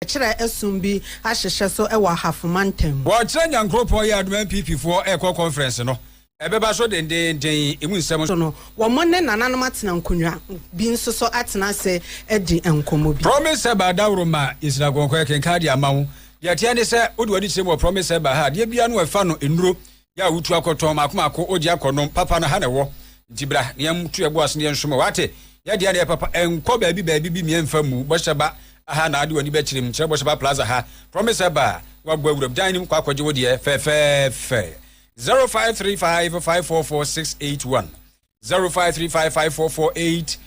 kyerɛ ɛsom bi ahyehyɛ so wɔ Ahafo Mantam. Wɔkyerɛ Nyankoropɔn yɛ adom NPP foɔ rekɔ conference no ɛbɛba so dendeenden emu nsɛm. So no, wɔn ne nananom atena nkonnwa bi nso so atena ase adi nkɔmmɔ bi. Promise Herbal Daworo ma nhyira kɔnkɔn ɛkenkan de ama wo. Deɛ ɛteɛ ne sɛ wode w'ani kyerɛ mu wɔ Promise Herbal ha adeɛ biara no ɛfa no nnuro Yɛ a wotu akɔ tɔn maako maako ogye akɔ nom papa no ha na ɛwɔ nti bra na yɛn tu ɛbo ase na yɛn soma wate yɛ deɛ na yɛ papa ɛnkɔ baabi baabi bi miɛ nfa mu bɔhyɛ ba aha na ade wani bɛkyerɛ mu kyerɛ bɔhyɛ ba plaza ha promise ɛba wabɔ awuram dan nim kɔ akɔgye wo deɛ fɛfɛɛfɛ 0535544681 0535544681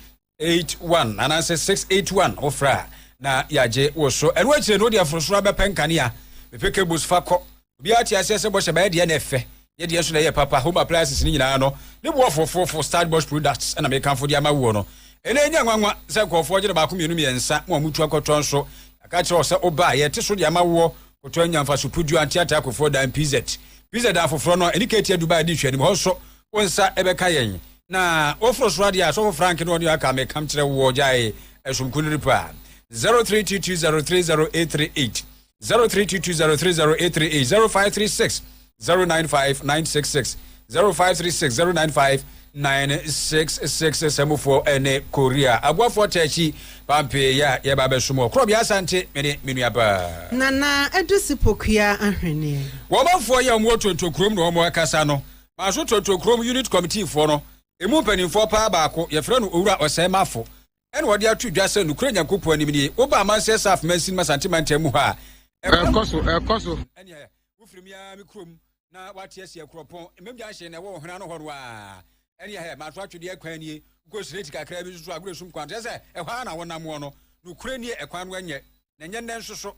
eight one anaasɛ six eight one wofrɛ a na yɛagye wo so ɛno akyire no wode aforosoro abɛpɛ nkanea mepɛ cables fa kɔ obiara te aseɛ sɛ bɔhyɛ bɛyɛ deɛ na ɛfɛ yɛ deɛ nso na ɛyɛ papa home appliances no nyinaa no ne boɔfoɔ foofo start box products ɛna mekamfo de ama woɔ no ɛnɛ ɛnyɛ nwanwa sɛ nkurɔfoɔ gye no baako mmienu mmiɛnsa ma ɔmutu akɔtɔ nso yɛaka kyerɛ wo sɛ wobaa yɛte so de ama woɔ kɔtɔ anya mfaso puduo anteataa kofoɔ dan pz pz dan foforɔ no ɛne katia dubai de nhwɛ anim hɔ nso wo nsa bɛka yɛn na woforo soro adeɛ a sɔfo frank ne ɔne aka mekam kyerɛ wo ɔgyae ɛsom kuniri pa 0322030838 0322030838 0536 095 966 0536 095 966 sɛmufoɔ ɛne korea aboafoɔ tɛkyi pampee yɛ a yɛba bɛsom wɔ korɔ biasa nte mene menuabaa nana ɛde si pokua ahweneɛ wɔmanfoɔ yɛ wɔn wɔ tonto kurom na wɔn akasa no Maaso Tonton Kurom Unit Kɔmitiifoɔ no mu mpanimfoɔ paa baako, yɛfrɛ no Owura Ɔsɛe Mafo, ɛna ɔde ato dwa sɛ nokorɛ Nyankopɔn anim nie, woba Amansɛ South Mansin mu Asante mantam mu hɔ a, ɛkɔ so, ɛkɔ so. Ɛneɛ, wofiri me ara me kurom na woate aseɛ, Kuropɔn, Mmam Junction na ɛwɔ Ɔhene ano hɔ no ara. Ɛneɛ hɛ, Maaso atwedeɛ kwan nie, wokɔ straight kakra bi nso so a, Agoresum kwan, kyerɛ sɛ, ɛhɔ ara na wonam wɔ no. Nokorɛ nie, ɛkwan no ɛnyɛ, na ɛnyɛ nnɛ nso so.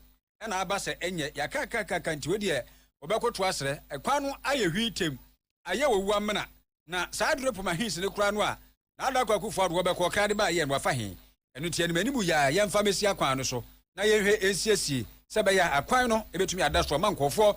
na aba sɛ ɛnyɛ ya kakakaka nti wei deɛ wɔbɛkoto asrɛ. Kwan no ayɛ hwii tɛm, ayɛ owu amena. Na saa Adurepom Ahensi no koraa no a na Adako Akufo-Addo wɔbɛkɔ ɔkra de baeɛ no wafa he? Ɛno nti anim anim yi ara yɛmfa mɛsi akwan no so na yɛnhwɛ nsiesie sɛ ɛbɛyɛ a akwan no bɛtumi ada so ama nkurɔfoɔ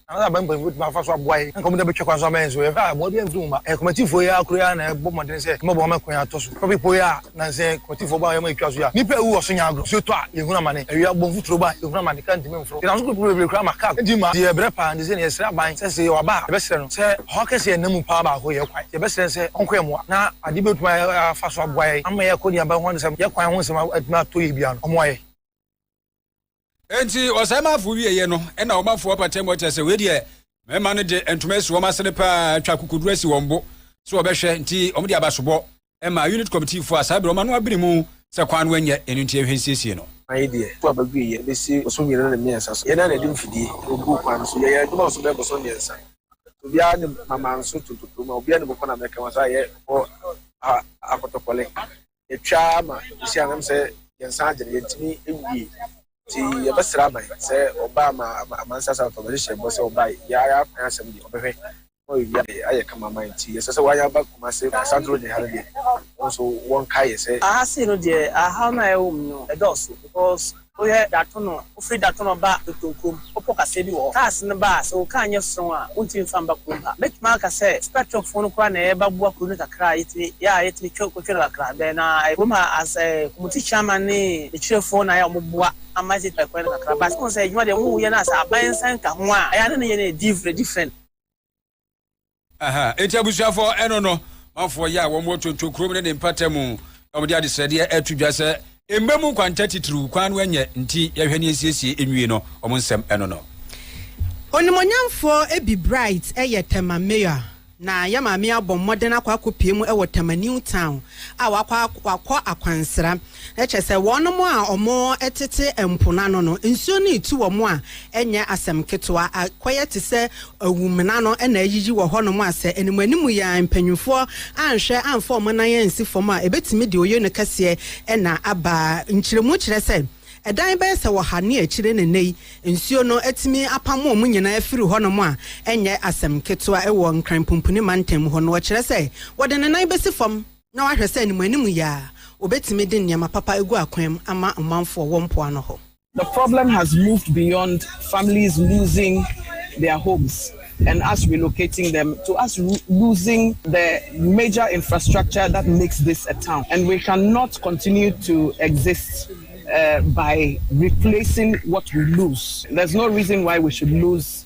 Anaa aban mpanyimfo betumi afa so aboa yɛn anka wɔn de abɛtwa kwan so ama yɛn so ɛ? A Mmoa biara mfiri nwoma. Ɛyɛ komatifoɔ yi ara koro yi ara na ɛbɔ mmɔden sɛ ɛbɛboa ma kwan atɔ so. Topic pɔw yi a nnansa yi komatifoɔ bɔ a wɔyɛ ma etwa so yi a, Nnipa a ɛwuwu ɔso nyɛ agorɔ. Nsuo tɔ a, yɛhunu amane. Awia bɔ mfuturo ba a, yɛhunu amane. Kaa ntumi mforo. Yɛnam so kɔ kurow bebree koraa ma kaa kɔ. Enti ma yɛyɛ brɛ paa. Enti sɛ na yɛsrɛ aban sɛ sɛ yɛwɔ aba a, yɛbɛsrɛ no sɛ ɔhaw kɛse a ɛnna mu paa baako yɛ kwan. Enti yɛbɛsrɛ no sɛ ɔnkɔ yɛn mmoa. Na adeɛ bi a wɔbɛtumi afa so aboa yɛn ama yɛakɔ nnuaba ho ne sɛ yɛn kwan ho nsɛm atumi atɔ yie biara no, ɔmmoa yɛn. enti ɔsan ma afo wieɛ no ɛna wɔn afo apata mu ɔkyɛ sɛ wei deɛ mmarima no de ntoma asi wɔn asene paa atwa kokoduro asi wɔn bo sɛ wɔbɛhwɛ nti wɔn de abasobɔ ɛma unit committee fo a saa berɛ wɔn ano abiri mu sɛ kwan no ɛnyɛ ɛno nti ɛhwɛ nsiesie no. Ayi deɛ, kɔ a bɛgu yɛ bɛsi boso mmienu ne mmiɛnsa so. Yɛn na na ɛde mfidie na ɔguu kwan no so. Yɛyɛɛ adwuma nso bɛyɛ boso mmiɛnsa. Obiara ne mama nso to ntokuro mu a obiara ne bɔkɔ na mɛka wɔn saa yɛ wɔ ha akɔtɔkɔle. yɛtwa ara ma ɛsi anam sɛ yɛn nsa agye no, yɛntumi nwie. Nti yɛbɛsrɛ aban sɛ ɔba ama amansa asafo ɔbɛde hyɛ bɔ sɛ ɔba yɛ ara akwan asɛm deɛ ɔbɛhwɛ ma ɔyɛ wia deɛ ayɛ kama ma nti yɛsɛ sɛ wɔayɛ aba kuma se asantoro deɛ ha no deɛ nso wɔn kaeɛ sɛ. Aha sei no deɛ ahaw no a ɛwɔ mu no ɛdɔɔso because Woyɛ Datono, wofiri Datono ba Dɔtɔ kurom, bepɔ kaseɛ bi wɔ hɔ. Cars no ba a, sɛ wo car nyɛ strong a, wontumi mfa mba kurom ha. Mɛtumi aka sɛ Spectrum foɔ no koraa na ɛba boa kuro no kakra a yɛtumi yɛ a yɛtumi twa kɔtwa no kakra bɛn na ɛyɛ kurom ha as community chairman ne akyirefɔɔ na ayɛ a wɔn boa ama yɛtumi twa kwan no kakra but wohu sɛ adwuma deɛ wɔn yɛ no as aban nsa nka ho a ɛyɛ a na ne yɛ no yɛ different. nti abusuafoɔ ɛno no mafoɔ yɛ a wɔn wɔ tonto kurom ne ne mpata mu na wɔde adesrɛdeɛ ɛto dwa sɛ mma mu kwanta titiriw kwan no ɛnyɛ nti yɛhwɛ ne nsiesie nwie no wɔn nsɛm ɛno no. Onimonyamfoɔ Ebi Bright yɛ Tema Mayor na yɛ maame abɔ mmɔden akɔ akɔpue mu wɔ Tema New Town a wakɔ akwansra. Na kyerɛ sɛ, wɔnom a wɔtete mpo no ano no, nsuo no retu wɔn a, ɛnyɛ asɛm ketewa. Akɔyɛ te sɛ awumena no na ayiyi wɔ hɔnom a, sɛ animuanimu yi ara mpanimfoɔ anhwɛ amfa wɔn nan ansi fam a, ɛbɛtumi de oyono kɛseɛ na aba. Nkyerɛmu kyerɛ sɛ, ɛdan bɛyɛ sɛ ɔha ne akyire na nnɛ yi, nsuo no atumi apamo wɔn nyinaa afiri hɔnom a, ɛnyɛ asɛm ketewa. Wɔ Nkran Pumpuni Mantam hɔ no, wɔkyerɛ sɛ, wɔde ne nan bɛsi fam. na wahwɛ sɛ ne mu anim yɛ a, obetumi de nneɛma papa agu akwan mu ama ɔmanfoɔ wɔ mpoano hɔ. The problem has moved beyond families losing their homes and us relocating them to us losing the major infrastructure that makes this a town and we cannot continue to exist by replacing what we lose. There's no reason why we should lose.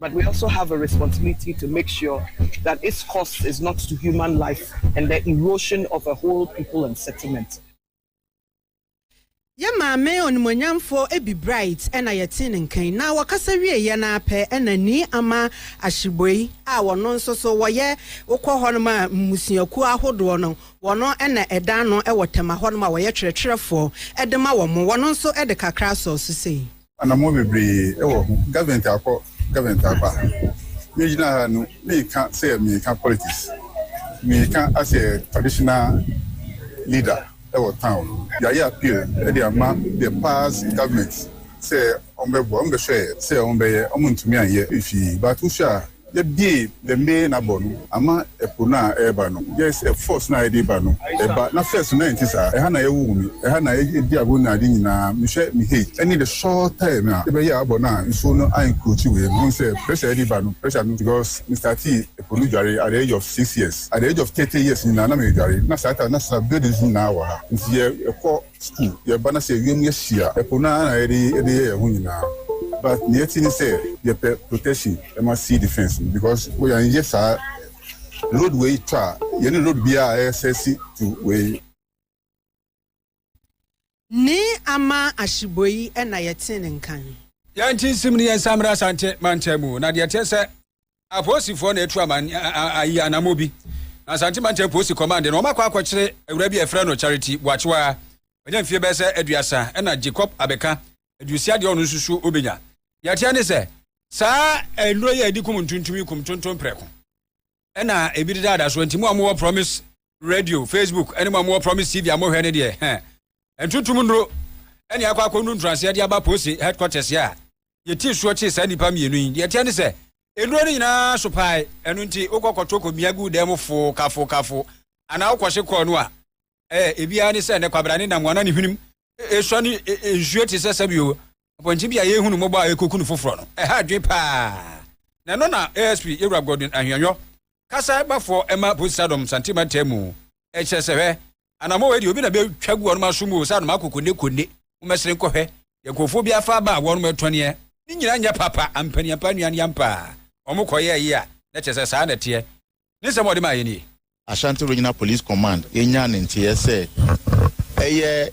but we also have a responsibility to make sure that its cost is not to human life and the erosion of a whole people and settlement. Yɛn maame onimuonyamfo Abby Bright na yɛtee ne nka yi, na wɔkasa wieeɛ no ara pɛ na Nii Ama Ashibwey a wɔno nso so wɔyɛ wokɔ hɔnom a mmusuakuo ahodoɔ no wɔno na ɛda ano wɔ Tema hɔnom a wɔyɛ twerɛtwerɛfoɔ de ma wɔn, wɔno nso de kakra sɔɔ so sei. Anammɔn bebree wɔ ho, government akɔ, government aba. Me gyina ha no, meka sɛ meka politics. Meka as a traditional leader wɔ town no. Yɛayɛ appeal de ama the past government sɛ wɔn bɛboa, wɔn bɛhwɛɛ sɛ wɔn bɛyɛ, wɔn ntumi anyɛ. Fii, but wohwɛ a Yɛbue the main abɔ no ama ɛpo no a ɛreba no just ɛ force no a ɛde ba no ɛba na first no na ɛnte saa ɛha na yɛwoo me ɛha na yɛdi agoru ne ade nyinaa mehwɛ me hei ɛne the short time a yɛbɛyɛɛ abɔ no a nsuo no a encroachi wei no wohu sɛ pressure a ɛde ba no pressure no because me startee ɛpo no dware at the age of six years at the age of thirty years nyinaa na meredware na saa time na saa buildings nyinaa wɔ ha nti yɛ ɛkɔ Sukuu, yɛba na sɛ wiem yɛ hye a, ɛpo no ara na yɛde yɛ yɛn ho nyinaa. But nea ɛte ne sɛ, yɛpɛ protection ma sea defence no because wo yɛanyɛ saa road wei tɔ a, yɛne road biara a ɛyɛ sɛsi to wei. Ne ama ahyebɔ yi na yɛte ne nkan. Yɛn nti nsem ne yɛn nsa mmra Asante mantam mu na deɛ ɛteɛ sɛ. Apolisifoɔ na atu aman ayi anammɔ bi na Asante Mantam Polisi Kɔmande na wɔakɔ akɔkyere awura bi a yɛfrɛ no Charity Boakyewa a wanya mfeɛ bɛyɛ sɛ aduasa ɛna Jacob Abeka aduosia deɛ ɔno nso suo ɔbɛnya. Deɛ ɛteɛ ne sɛ saa nnuro yi a yɛde kum ntontom yi kum ntontom prɛko ɛna ebi deda ada so nti mo a mowɔ Promise Radio, Facebook ɛne mo a mowɔ Promise TV a mohwɛ ne deɛ hɛn ntontom nnuro ɛne akɔ akɔnu ntoraseɛ de aba polisi headquarters a yɛtii soɔ kyee saa nnipa mmienu yi. Deɛ ɛteɛ ne sɛ, nnuro no nyinaa so pae, ɛno nti wokɔ kɔto kɔmia gu dan mu foo kafo kafo, anaa wokɔhye kɔɔ no a, ɛɛ, ebiara ne sɛ, nnɛ kwabra ne nam wɔna ne hwenem ɛsua no nsuo te sɛ sɛbio mpɔnkye bi a yɛhunu mmɔbɔ a ɛkɔku no foforɔ no. Ɛha adwene paa. Na ɛno na ASP Yɛwura Godwin Ahweanyɔ kasa bafo ma Poseidon santen mantam mu. Ɛkyerɛ sɛ, hwɛ, anammɔn wei deɛ obi na bɛtwa gu wɔn aso mu o, sɛ anom akokone kone, mommɛsere nkɔhwɛ, deɛ nkurɔfoɔ bi afa aba a wɔnom retɔneɛ, ne nyinaa nyɛ papa, ampa ni ampa nnuane ampa a wɔn kɔyɛɛ yi a, na kyerɛ sɛ saa na ɛteɛ. Ne nsɛm a ɔde maeɛ nie. Ashanti Regional Police Command nyaa ne nteeɛ sɛ ɛyɛ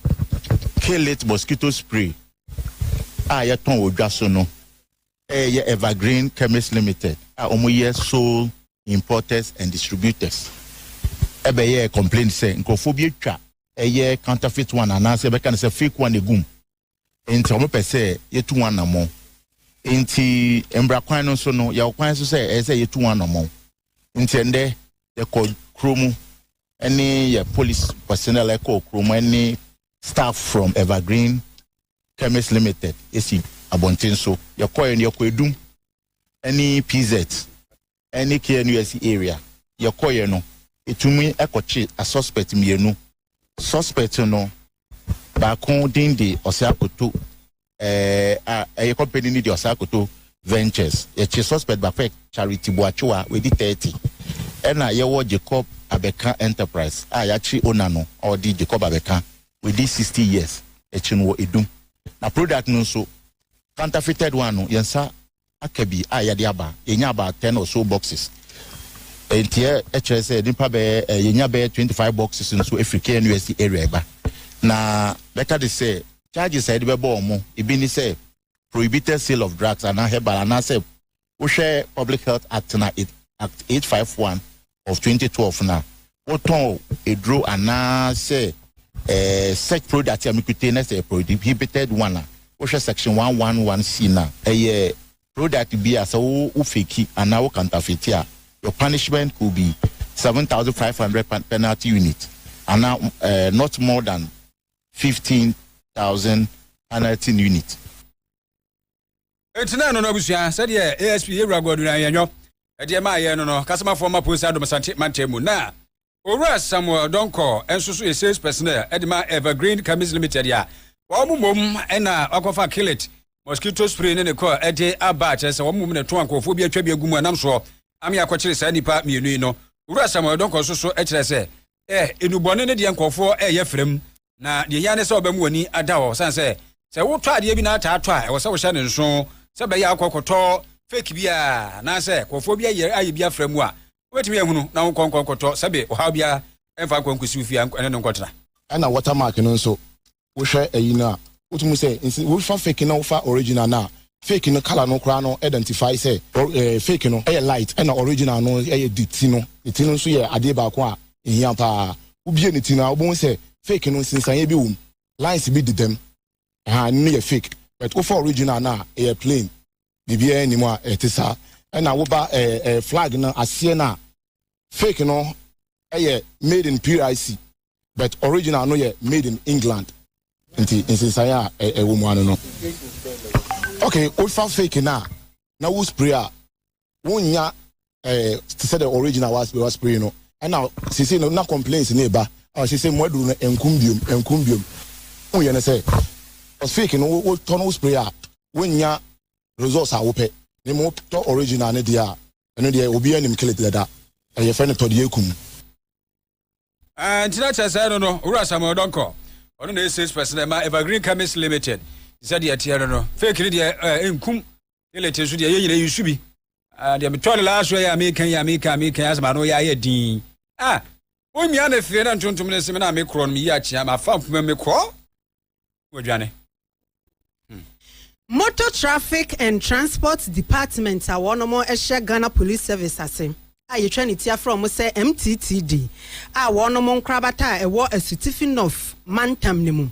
Kill It Mosquito Spray a yɛtɔn wɔ dwa so no Yɛ Evergreen Chemists Limited a wɔyɛ sole importers and distributors bɛyɛɛ complaint sɛ nkurɔfoɔ bi atwa ɛyɛ counterfeit one anaasɛ yɛbɛka no sɛ fake one agu mu nti wɔpɛ sɛ yɛtu wɔn anammɔn. Nti mmara kwan no so no yɛwɔ kwan so sɛ ɛyɛ sɛ yɛtu wɔn anammɔn. Nti ɛndɛ yɛkɔ kuro mu ne yɛ police personnel ɛkɔɔ kuro mu ne staff from Evergreen Chemist Limited si abɔnten so. Yɛkɔeɛ no, yɛkɔ Adum ne PZ ne KNUST area. Yɛkɔeɛ no, yɛtumi kɔtwe asuspect mmienu. Suspect no baako din de Ɔsɛakoto a ɛyɛ company no de Ɔsɛakoto Ventures. Yɛkye suspect baako yɛ Charity Boakyewa, wadi 30. Ɛna yɛwɔ Jacob Abɛka Enterprise a yɛakye owner no a ɔde Jacob Abɛka wadi sixty years akyi no wɔ edum na product no nso counterfeited one no yɛn nsa aka bi a yɛde aba yɛnya about ten or so boxes nti ɛkyerɛ sɛ nipa bɛyɛ yɛnya bɛyɛ twenty five boxes nso efiri knusd area ɛba na bɛka de sɛ charges a yɛde bɛbɔ wɔn ebi ne sɛ prohibited sale of drugs anaa herbal anaasɛ Wohwɛ Public Health Act no a, Act eight five one of twenty twelve no a, wotɔn aduro anaa sɛ eh, sex product a mekute na sɛ prohibited one a, wohwɛ section one one one C no a, ɛyɛ product bi a sɛ wo wo feki anaa wo kantafeti a, your punishment could be seven thousand five hundred penalty unit anaa eh, not more than fifteen thousand penalty unit. Enti na ɛno no abusua sɛdeɛ ASP Yɛwura Godwin Ayɛnyɔ ɛdeɛ maa yɛn no no Kasomafoɔ ma Posa Dom Asante mantam mu na Owura Samuel Donkor nso so yɛ sales personnel ɛde ma Evergreen Chemist Limited a wɔn mmom na wakɔfa Killit mosquito spray ne ne kɔ ɛde aba a kyerɛ sɛ wɔn mmom na ɛtɔn nkurɔfoɔ bi atwa bi agu mu ɛnam soɔ ame akɔkyere saa nnipa mmienu yi no Owura Samuel Donkor nso so kyerɛ sɛ Ɛ, nnubɔne ne deɛ nkurɔfoɔ reyɛ frɛ mu, na deɛ ɛhia ne sɛ wobɛma w'ani ada hɔ, sane sɛ, sɛ wotɔ adeɛ bi na ata atɔ a, ɛwɔ sɛ wohyɛ no nso, sɛ ɛbɛyɛ a wokɔ akɔtɔ fake bi a, anaasɛ nkurɔfoɔ bi ayɛ ayɛ bi afrɛ mu a, wobɛtumi ahunu, na wonkɔ nkɔ nkɔtɔ, sɛbe ɔhaw biara mfa nkɔ nkɔsi wo fie a, ɛne no nkɔtena. Ɛna watermark no nso, wohwɛ ayi no a, wotumi sɛ nse wofa fake na wofa original no a, fake no colour no koraa no identify sɛ or eh, fake no yɛ light ɛna original no yɛ de ti no. Ne ti no nso yɛ adeɛ baako a ɛhia paa. Wobie ne ti no a, wobɛhu sɛ fake no nsensaneɛ bi wɔ mu, lines bi dedam, ɛhaa ɛno no yɛ fake. But wofa original no a, ɛyɛ plain, biribiara nni mu a ɛte saa. Ɛna woba eh, eh, flag no aseɛ no a, fake no yɛ made in PIC, but original no yɛ made in England nti nsensan a ɛwɔ mu ano no okay wofa fake no a na wo spray a wonnya eh, te sɛ the original was was spray no ɛna sese no na complaints ne ba a sese mu aduru no nkum biom nkum biom ho yɛ ne sɛ fake no wo tɔ no spray a wonnya results a wopɛ ne mu tɔ original ne deɛ a ɛno deɛ obi anim kele dada ɛyɛ fɛ no tɔ deɛ ekum. Ah, nti na kyerɛ sɛ no no, Owura Samuel Donkor, ɔno na ɛyɛ salesperson na ɛma Evergreen Chemist Limited, sɛ deɛ ɛteɛ no no, fake no deɛ eh, nkum, elete nso deɛ yɛ nyina yi nsu bi. Ah, deɛ metɔ no last yɛ a meka yi a meka a meka yi asɛm ano yɛ ayɛ din. Ah, wonwia me fee na ntontom no seme na mekorɔ no meyi akyea mafa mfuma me korɔ. wɔadwane. Hmm. Motor Traffic and Transport Department a wɔn hyɛ Ghana Police Service ase a yɛtwa ne ti afrɛ wɔn sɛ MTTD a wɔn nkorabata a ɛwɔ Asutifi North mantam no mu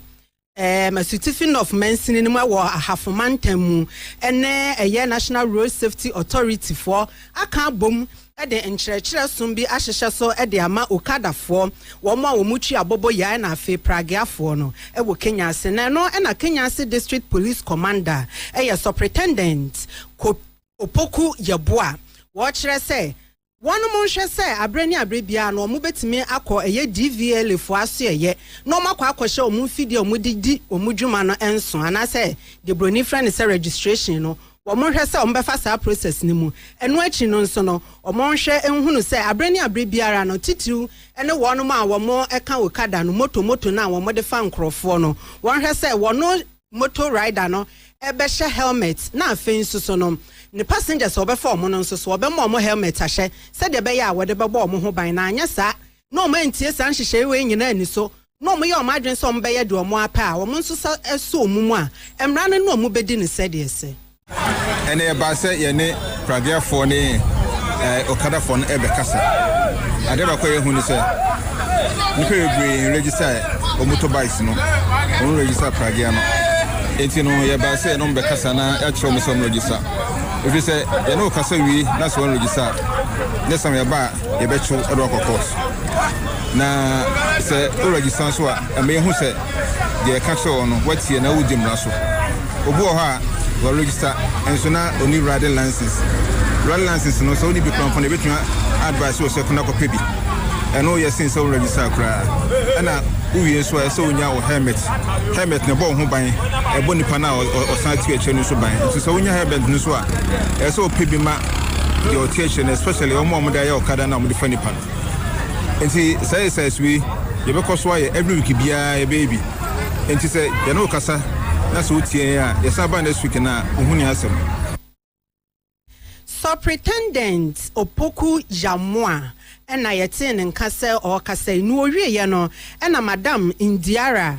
ɛɛm Asutifi North mansini no mu wɔ Ahafo mantam mu ɛne ɛyɛ National Road Safety Authority foɔ aka abom de nkyerɛkyerɛ som bi ahyehyɛ so de ama Okadafoɔ, wɔn a wɔn twi abobɔ yae na afei Pragueafoɔ no, wɔ Kenya ase. Na ɛno na Kenya ase District Police Commander, ɛyɛ Supretendent Kop Opoku Yeboah, wɔkyerɛ sɛ wɔn nhwɛ sɛ aberɛ ne aberɛ biara no wɔn bɛtumi akɔ ɛyɛ DVLA foɔ asoɛeɛ na wɔn akɔ akɔhyɛ wɔn mfidie a wɔn de di wɔn dwuma no nso anaasɛ deɛ broni frɛ no sɛ registration no wɔnhwɛ sɛ wɔbɛfa saa process no mu. Ɛno akyi no nso no, wɔnhwɛ nhunu sɛ abere ne abere biara no, titiriw ne wɔnom a wɔka okada no, moto moto no a wɔde fa nkorɔfoɔ no, wɔnhwɛ sɛ wɔno moto rider no bɛhyɛ helmet na afei nso so no ne passengers a wɔbɛfa wɔn no nso so wɔbɛma wɔn helmet ahyɛ sɛdeɛ ɛbɛyɛ a wɔde bɛbɔ wɔn ho ban na anyɛ saa na wɔn antie saa nhyehyɛe wei nyinaa ani so na wɔyɛ wɔn adwene sɛ wɔbɛyɛ deɛ wɔn ara pɛ a, wɔn nso sa sɔ wɔn mu a, mmara no ne wɔn bɛdi no sɛdeɛ ɛsɛ. Ɛnna ɛbaa sɛ yɛne Praguefoɔ ne Okadafoɔ no rebɛkasa. Adeɛ baako a yɛahu ne sɛ, nnipa bebree nregister wɔn motorbikes no, wɔnregister Prague no. Enti no, yɛbaa sɛ yɛne wɔn bɛkasa na yɛakyerɛ wɔn sɛ wɔnregister. Ɛfiri sɛ, yɛne wo kasa wie na sɛ wɔnregister a, next time yɛba a, yɛbɛto ɛde wakɔ court na sɛ o register nso a ɛmɛ yɛhu sɛ deɛ ɛka kyerɛ wɔ no watie na wodi mmara so obi wɔ hɔ a wɔ register nso na ɔni riding license riding license no sɛ woni bi kɔnpɔn ɛbɛtumi advice wɔ sɛ kɔnɔ kɔpɛ bi ɛno yɛ sen sɛ wo register koraa ɛna wowie nso a ɛsɛ wonya wo helmet helmet na ɛbɔ wo ho ban ɛbɔ nipa no a ɔsan ti akyerɛ no nso ban nso sɛ wonya helmet no nso a ɛsɛ wopɛ bi ma deɛ ɔte akyire no especially wɔn a wɔde ayɛ ɔkada no a wɔde fa nipa no nti saa exercise wei yɛbɛkɔ so ayɛ every week biara yɛbɛyɛ bi nti sɛ yɛne wo kasa na sɛ wotie yɛn a yɛsan ba next week no a wohu ne asɛm Superintendent Opoku Yamoa na yɛtee ne nka sɛ ɔrekasa yi. Nea ɔwieeɛ no, ɛna Madam Ndiara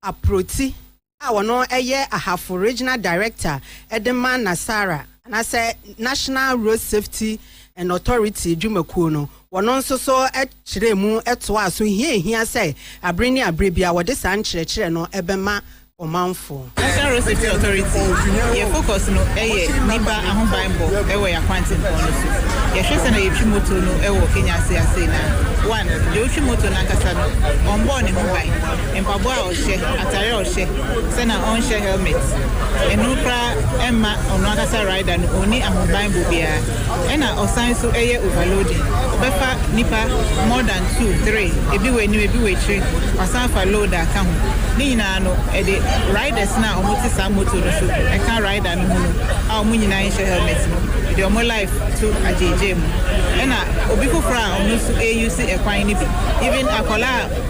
Aproti a ɔno yɛ Ahafo Regional Director de ma NASARA anaasɛ National Road Safety and Authority dwumakuo no, wɔno nso so kyerɛɛ mu toaa so hia ɛhia sɛ abere ne abere biara wɔde saa nkyerɛkyerɛ no bɛma ɔmanfoɔ. National Road Safety Authority, yɛn focus no yɛ nnipa ahobanbɔ wɔ yɛn akwantempɔn no so. Yɛhwɛ sɛnea yɛtwi motor no wɔ Kenya ase asei no a, one, deɛ ɔtwi motor no ankasa no, ɔmbɔɔ ne ho ban. Mpaboa a ɔhyɛ, atare a ɔhyɛ, sɛ na ɔnhyɛ helmet, ɛno koraa ɛmma ɔno ankasa rider no ɔnni ahobanbɔ biara. Ɛna ɔsan nso yɛ overloading, ɔbɛfa nnipa more than two, three, ebi wɔ anim, ebi wɔ akyire, wasan afa load aka ho. Ne nyinaa no ɛde riders no a wɔte saa motor no so, ɛka rider no ho no a wɔn nyinaa nhyɛ helmet no, ɛde wɔn life to agyeegyae mu. Ɛna obi foforɔ a ɔno nso ɛreuse ɛkwan no bi, even akwadaa a.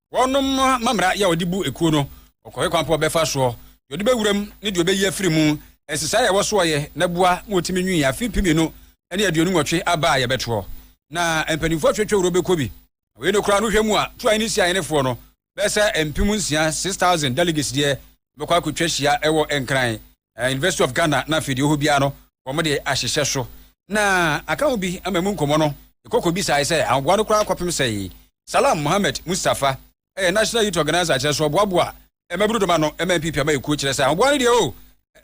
Wɔnom mamera yɛ ɔde bu ekuo no, ɔkɔhwɛ kwan pa ɔbɛfa soɔ, deɛ ɔde bɛwura mu ne deɛ ɔbɛyi afiri mu, nsesaeɛ a ɛwɔ soɔ yɛ na boa ma wɔtumi nwii afe mpem mmienu ne aduonu nwɔtwe aba a yɛbɛtoɔ. Na mpaninfoɔ atwatwa wuro bɛkɔ bi. Na wei no koraa no wohwɛ mu a Tuae ne Siae nefoɔ no bɛyɛ sɛ mpem nsia, six thousand, delegates deɛ bɛkɔ akɔtwa hyia wɔ Nkran eh, University of Ghana na afei deɛ ɔhɔ biara no wɔn de ahyehyɛ so na aka ho bi ama mu nkɔmmɔ no ɛkɔkɔ bisae sɛ ahoboa no koraa kɔpem sɛe Salam Mohammed Mustafa ɛyɛ National Youth Organizer kyerɛ so ɔboaboa mmabunu dɔm ano ɛma mpipi ama ɛkuo kyerɛ sɛ ahoboa no deɛ o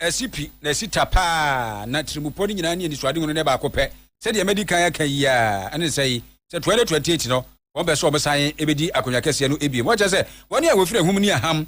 ɛsi pi na ɛsi ta paa na tirimupɔ no nyinaa ne anisoade ho no ne baako pɛ sɛdeɛ madi kan aka yi a ɛne sɛ yi sɛ 2028 no wɔn bɛ sɛ wɔn san ɛbɛdi akonnwa kɛseɛ no ebiem wɔkyɛ sɛ wɔn a wɔfiri ahum ne aham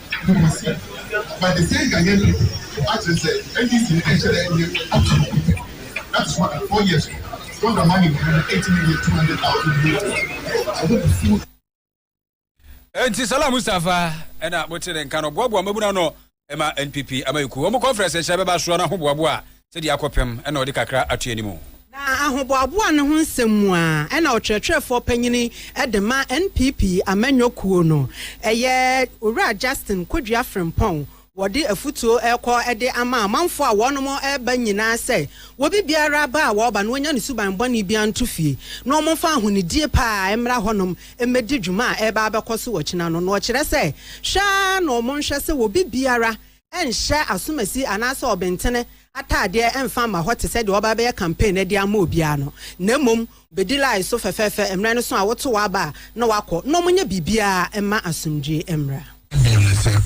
Enti Salah Mustapha na mote ne nka no boaboa mmabunu ano ma NPP amayɛkuo wɔn conference nhyɛ bɛba soɔ no ahoboaboa a sɛ deɛ akɔ pɛm na ɔde kakra ato anim o. Na ahoboaboa no ho nsɛm mu a ɛna ɔkyerɛkyerɛfoɔ panyini de ma NPP amanyɔ kuo no yɛ Owura Justin Kodua Frimpong wɔde afutuo rekɔ de ama amanfoɔ a wɔnom reba nyinaa sɛ wɔbi biara ba a wɔba no wɔnya ne suban bɔne biara nto fie na wɔmfa ahonidie pa ara mmra hɔnom mmɛdi dwuma a ɛreba abɛkɔ so ɔkyena no na ɔkyerɛ sɛ hwɛ ara na wɔnhwɛ sɛ wɔbi biara nhyɛ asomasi anaasɛ ɔbentene ataadeɛ mfa mma hɔ te sɛ deɛ ɔreba abɛyɛ campaign no de ama obiara no, na mmom bɛdi line so fɛfɛɛfɛ mmerɛ no so a woto w'aba a na wakɔ, na wɔnyɛ biribiara mma asomdwoeɛ mmra. Bio ne sɛ,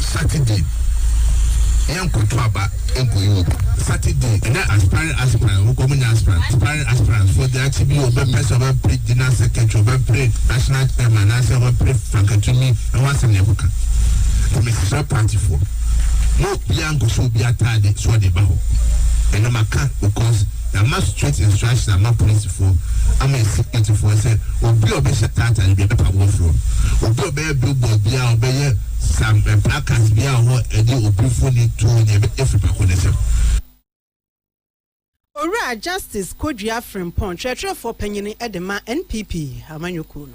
Saturday yɛnkɔto aba nkɔyi obi. Saturday ɛnyɛ aspiring aspirant wokɔ ɔmo nyɛ aspirant aspiring aspirant foɔ deɛ akyi bi ɔbɛpɛ sɛ ɔbɛpere general secretary ɔbɛpere national chairman anaasɛ ɔbɛpere fakatumi. Ɛho asɛm na ɛkɔka. Nti mesrɛ partyfoɔ, mo obiara nkɔhyɛ obi ataade sɛ ɔde ba hɔ. Ɛno maka because yɛama straight instruction ama polisifoɔ ama yɛ securityfoɔ sɛ obi a ɔbɛhyɛ taa ataade bi ɛbɛpa mo afiri hɔ. Obi a ɔbɛyɛ billboard bi a ɔbɛyɛ sam eh, placards bi a hɔ ɛde obi mfoni tuo ne ɛbɛyɛ firi pako ne nsam. Owura Justice Kodua Frimpong, Kyerɛkyerɛfoɔ Panyin de ma NPP Amanyɔkuo no.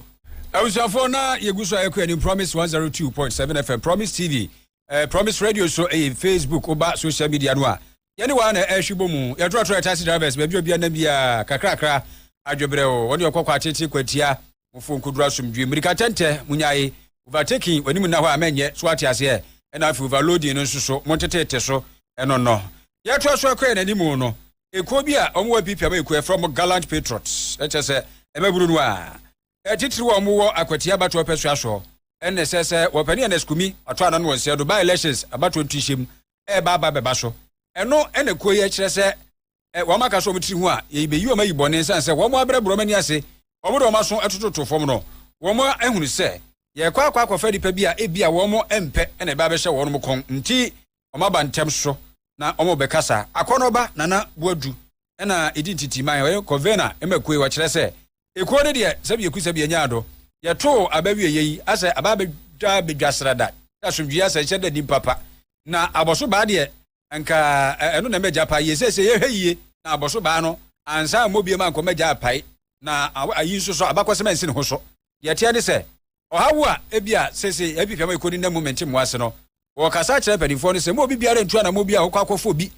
Abusuafoɔ na yɛgu so a yɛkɔ anim Promise 102.7 FM, Promise TV, eh, Promise Radio so ɛyɛ eh, Facebook, woba social media no a yɛne waa na ɛhwe bɔ mu yɛtorɔtorɔ yɛ taxi drivers baabi obia nam biara kakrakra adwebrɛ o wɔne ɔkɔkɔ atete kwatia mofo nkoduru asomdwie mmirika tɛntɛ munyae overtaking w'anim nna hɔ a mɛnyɛ so ate aseɛ ɛna afei overloading no nso so montetete so ɛno no deɛ ɛtoa so ɛkɔɛ n'anim no ekuo bi a wɔn wɔ apipia ma ekuo ɛfrɛ wɔn gallant patriots ɛkyɛ sɛ ɛmɛburu no a ɛtitiri wɔn wɔ akwati abatoɔ ɔpɛ so aso ɛna ɛsɛ sɛ wɔpɛ ne Ernest Kumi ɔtɔ ano no wɔn sɛ do by elections abatoɔ ntuhyɛm ɛɛba aba bɛba so ɛno ɛna kuo yɛ kyerɛ sɛ ɛ, wɔn aka so wɔn tiri ho a, yei bɛyi wɔn ayi bɔne, ɛsiane sɛ wɔn abrɛ abrɛ wɔn ani ase, wɔn de wɔn aso tototo fam no, wɔn ahunu sɛ yɛrekɔ akɔ akɔfa nnipa bi a ebia wɔn mpɛ na ɛbɛ abɛhyɛ wɔn kɔn nti, wɔn aba ntɛm so na wɔn bɛkasa. Akɔnɔba Nana Boadu na ɛdi ntintiman, ɔyɛ kɔvena ma kuo yi, ɔkyerɛ sɛ, ekuo no deɛ sɛ bieku sɛ bienyaa do, yɛtoo aba wieɛ yi, asɛ aba abɛdwa abɛdwa srada, asomdwie asɛ nhyɛ da nnim papa, na abɔso baa deɛ nka ɛno na mɛgya pae yie. Seesei yɛhwɛ yie na abɔso baa no ansa ammɔ biam ankɔ mɛgya apae na ayi nso so abakɔsɛm ansi ne ho so. Deɛ ɛteɛ ne sɛ, ɔhaw a ebia seesei yɛapiapia ma ɛkɔdi nna mu mente mmoa ase no, wɔkasa akyerɛ mpanimfoɔ no sɛ mma obi biara ntu anammɔn bi a ɔkɔ akɔfɔ bi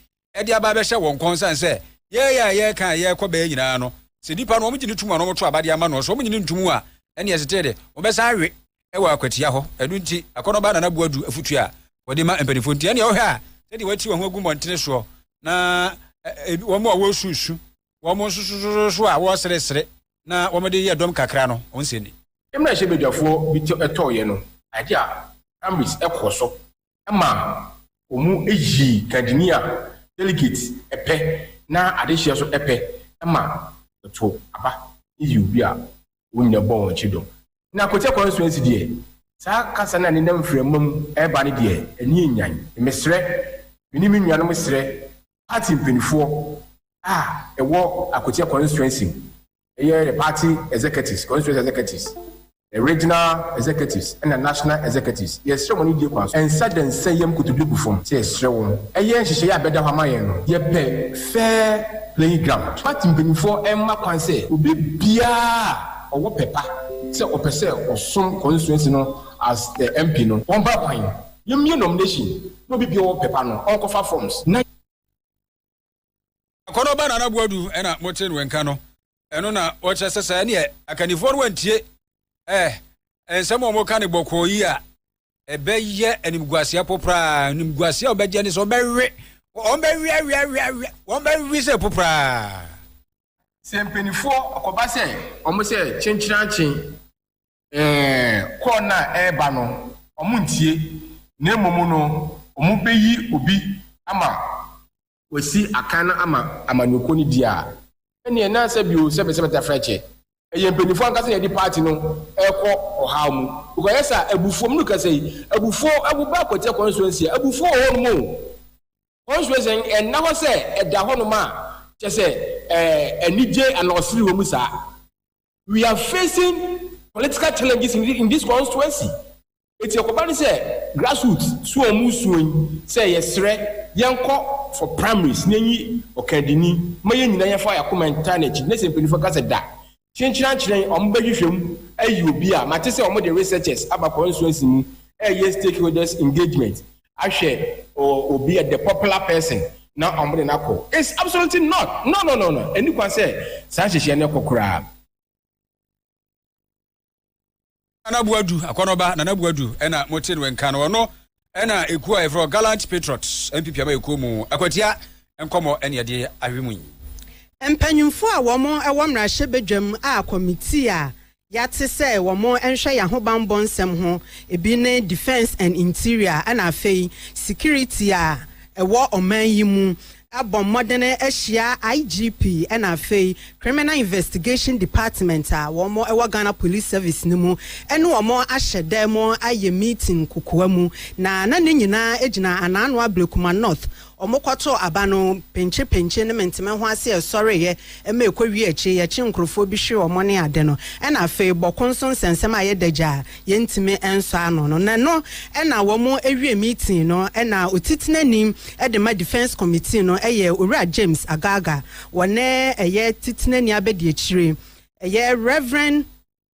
de aba abɛhyɛ wɔn kɔn sane sɛ yɛɛyɛ a yɛɛka a yɛɛkɔ bɛyɛ nyinaa no, sɛ nipa no wɔgye no tom a na wɔto aba de ama no, sɛ wɔnye no ntom a ɛneɛ ɛsete de wɔbɛsan awe wɔ akwatia hɔ. Ɛno nti, akɔnɔbaa Nana Boa du afotu a wɔde ma mpanimfoɔ nti. Ɛnneɛ wohwɛ a, sɛdeɛ wɔati wɔn ho agu mmɔntene soɔ, na wɔn a wɔresusu, wɔn nsosososo a wɔreseresere na wɔde yɛ dɔm kakra no, wɔn nsɛnni. Mmerɛ hyɛbadwafoɔ bi tɔeɛ no, adeɛ a Ambriz kɔɔ so ma wɔyi kadini a delegate pɛ na adehyeɛ so pɛ ma wɔto aba yi obi a wɔn nyina bɔ wɔn akyi dɔ. Na Kotia constituency deɛ saa kasa no a nenam mframa mu reba no deɛ ani anyan. Mesrɛ, me ne me nuanom srɛ party mpanifoɔ a ɛwɔ Akotia constituency Ɛyɛ the party executives, constituency executives, the regional executives ɛna national executives. Yɛsrɛ mo anidie kwan so ɛnsɛ dɛ nsɛ yɛm kotodwe gu fam sɛ yɛsrɛ wo yɛ nhyehyɛeɛ a ɛbɛda hɔ ama yɛn no. Yɛpɛ fair playing ground. Party mpaninfoɔ mma kwan sɛ obi biara a ɔwɔ pɛ pa sɛ ɔpɛ sɛ ɔsom constituency no as the MP no ɔmpa kwan. Yɛmmie nomination na obi biara a ɔwɔ pɛ pa no ɔnkɔfa forms na. akɔnɔba nana boadu ɛna mote no nka no ɛno na wɔkyerɛ sɛ sɛ ɛneɛ akannifoɔ no wantie ɛɛ nsɛm a wɔka ne bɔkɔɔ yi a ɛbɛyɛ animguaseɛ poporaa animguaseɛ a wɔbɛgye ne sɛ wɔbɛwe wɔbɛweaweaweawe wɔbɛwe sɛ poporaa sɛ mpanimfoɔ ɔkɔba sɛ wɔn sɛ kyenkyerankyen Ɛɛ, kɔɔ no a ɛreba no, wɔrentie, na mmom no, wɔbeyi obi ama wasi akan no ama amanyɔkuo no di a. Ɛnneɛ ɛnna nsɛ bio sɛ mesɛ mɛtena Frɛkyɛ. Ɛyɛ mpanimfoɔ ankasa na yɛde paati no rekɔ ɔhaw mu. Because ayɛ saa, abufuo, menu kasa yi, abufuo, wo ba Akwatia constituency a, abufuo wɔ hɔ nom o. Constituency no, ɛnna hɔ sɛ ɛda hɔ nom a, kyerɛ sɛ ɛɛ, anigye anaa ɔsere wɔ mu saa. we are facing political challenges in, in this constituency eti ɛkɔba ne sɛ grassroots so wɔn mu suo yi sɛ yɛsrɛ yɛnkɔ for primaries na enyi ɔkandini ma yɛn nyinaa yɛfa yɛ akoma ntaa n'akyi ne sɛ mpanyinfoɔ ka sɛ da kyenkyerɛ ankyerɛ wɔn bɛhwehwɛ mu ayi obi a mate sɛ wɔn de researchers aba constituency mu ɛyɛ stakeholders engagement ahwɛ obi a the popular person na wɔn de no akɔ it's absolutely not no no no no ɛni kwan sɛ saa nhyehyɛ no kɔ koraa. Nana Buadu akɔnɔba Nana Buadu ɛna mo te no nka no ɔno ɛna ekuo a yɛfrɛ Gallant Patriots NPP ama ekuo mu akwatia nkɔmɔ ɛne ɛde ahwɛ mu yi. Mpanyinfoɔ a wɔn ɛwɔ mmarahyɛ badwam a kɔmitii a Yɛate sɛ wɔnhwɛ yɛn ahobammɔ nsɛm ho, ebi ne Defence and Interior ɛna afei Security a ɛwɔ ɔman yi mu. Abɔ mmɔden ahyia IGP ɛna afei Criminal Investigation Department a wɔn ɛwɔ Ghana Police Service no mu ɛne wɔn ahyɛ dɛm ayɛ meeting kokoa mu na na ne nyinaa gyina Anaa Noa Blekuma North Wɔkɔtoo aba no, penkyepenkye ne menteme ho ase a ɛsɔreeɛ ma ɛkɔwiee akyire yi, ɛkyee nkurɔfoɔ bi hwee wɔn ne ade no, ɛnna afei bɔko nso nsɛnsɛm a ɛyɛ dagya a yɛntumi nsɔ ano no, na ɛno na wɔwie meeting no, ɛnna Otitenani de ma Defence Committee no yɛ Owura James Agaga, wɔne ɛyɛ Titenani Abadiakyire, ɛyɛ Rev.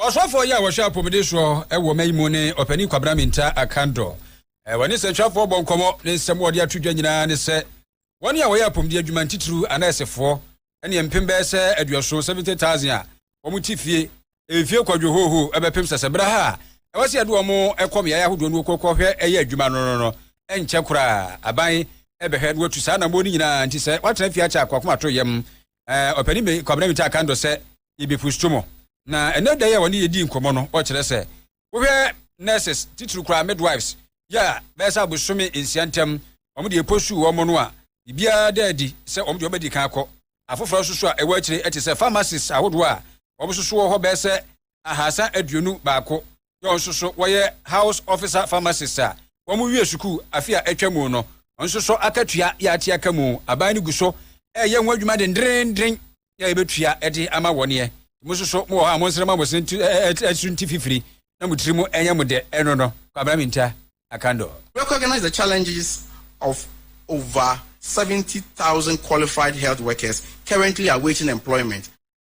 Ɔsɔfoɔ yi a wɔhwɛ apɔmuden soɔ wɔ ɔman yi mu ne Ɔpanin Kwabena Mintah Akandor. Wɔne nsɛntwerɛfoɔ bɔ nkɔmmɔ. Ne nsɛm a ɔde ato dwa nyinaa ne sɛ wɔn a wɔyɛ apɔmuden adwuma ntitiriw anɛɛsefoɔ ne mpem bɛyɛ sɛ aduɔson, 70,000, a wɔn te fie mfie kwadwo hooho bɛpem sɛ sɛ berɛ ha a ɛwɔ sɛ yɛde wɔn kɔ mmeaeɛ ahodoɔ no wɔkɔ kɔhwɛ ɛyɛ adwuma no no no ɛnkyɛ koraa aban ɛbɛhwɛ na wɔatu saa anammɔn no nyinaa nti sɛ wɔatena fie akyɛ akoakomato yam eh, ɔpanin bɛn Kwabena Mintah kan dɔ sɛ yɛbɛpusto mo. Na ɛnɛ da yi a wɔne yɛdii nkɔmmɔ no, ɔkyerɛ sɛ wohwɛ nurses titiri koraa midwives yɛ a bɛyɛ sɛ abosome nsia ntam wɔn deɛ ɛpɔsuu wɔn no a biribiara da adi sɛ wɔn deɛ wɔbɛdi kan akɔ afoforɔ nso so a ɛwɔ akyire ɛte sɛ pharmacies ahodoɔ a wɔn nso so wɔ hɔ bɛyɛ sɛ ahasa aduonu baako John nso so wɔyɛ House Officer Pharmacist a wɔwiee sukuu afe a atwa mu no. Ɔno nso so akatua yɛ ate aka mu. Aban no gu so reyɛ ho adwuma dendeenden ne a yɛbɛtua de ama wɔneɛ. Mo nso so mowɔ hɔ a monsrɛ ma mo se nso nti fifiri na mo tiri mu ɛnyɛ mo dɛ ɛno no. Kwabena Mintah Akandor. Recognize the challenges of over seventy thousand qualified health workers currently awaiting employment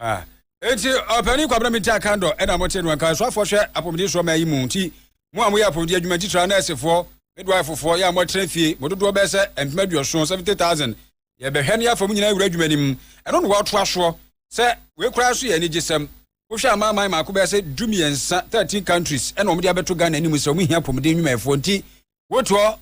Ah. Enti ɔpanin Kwabena Mintah Kandor na mote no, anka asuafoɔ hwɛ apɔmuden soɔ ma ayi mo nti mo a moyɛ apɔmuden adwuma ntitire a nɛɛsefoɔ, midwife-foɔ, yɛ a moatena fie, mo dodoɔ bɛyɛ sɛ mpem aduɔson, 70,000, yɛbɛhwɛ na yɛafa mo nyinaa awura adwuma no mu. Ɛno na wɔatoa soɔ sɛ wei koraa nso yɛ anigyesɛm. Wohwɛ amanaman mako bɛyɛ sɛ du-mmiɛnsa, 13 countries, na wɔde abɛto Ghana anim sɛ wɔhia apɔmuden nnwumayɛfoɔ nti Wote hɔ,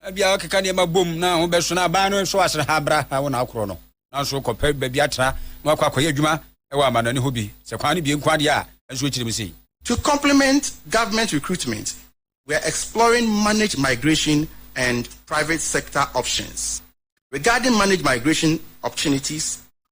ebia wɔkeka nneɛma bom na ho bɛso na aban no nso asere ha bra ha wo na akorɔ no. Nanso kɔpɛ baabi atra na wakɔ akɔyɛ adwuma wɔ amannɔne hɔ bi, sɛ kwan no bie nko ara deɛ a, ɛnso akyiri mu sei. To complement government recruitment, we are exploring managed migration and private sector options. Regarding managed migration opportunities,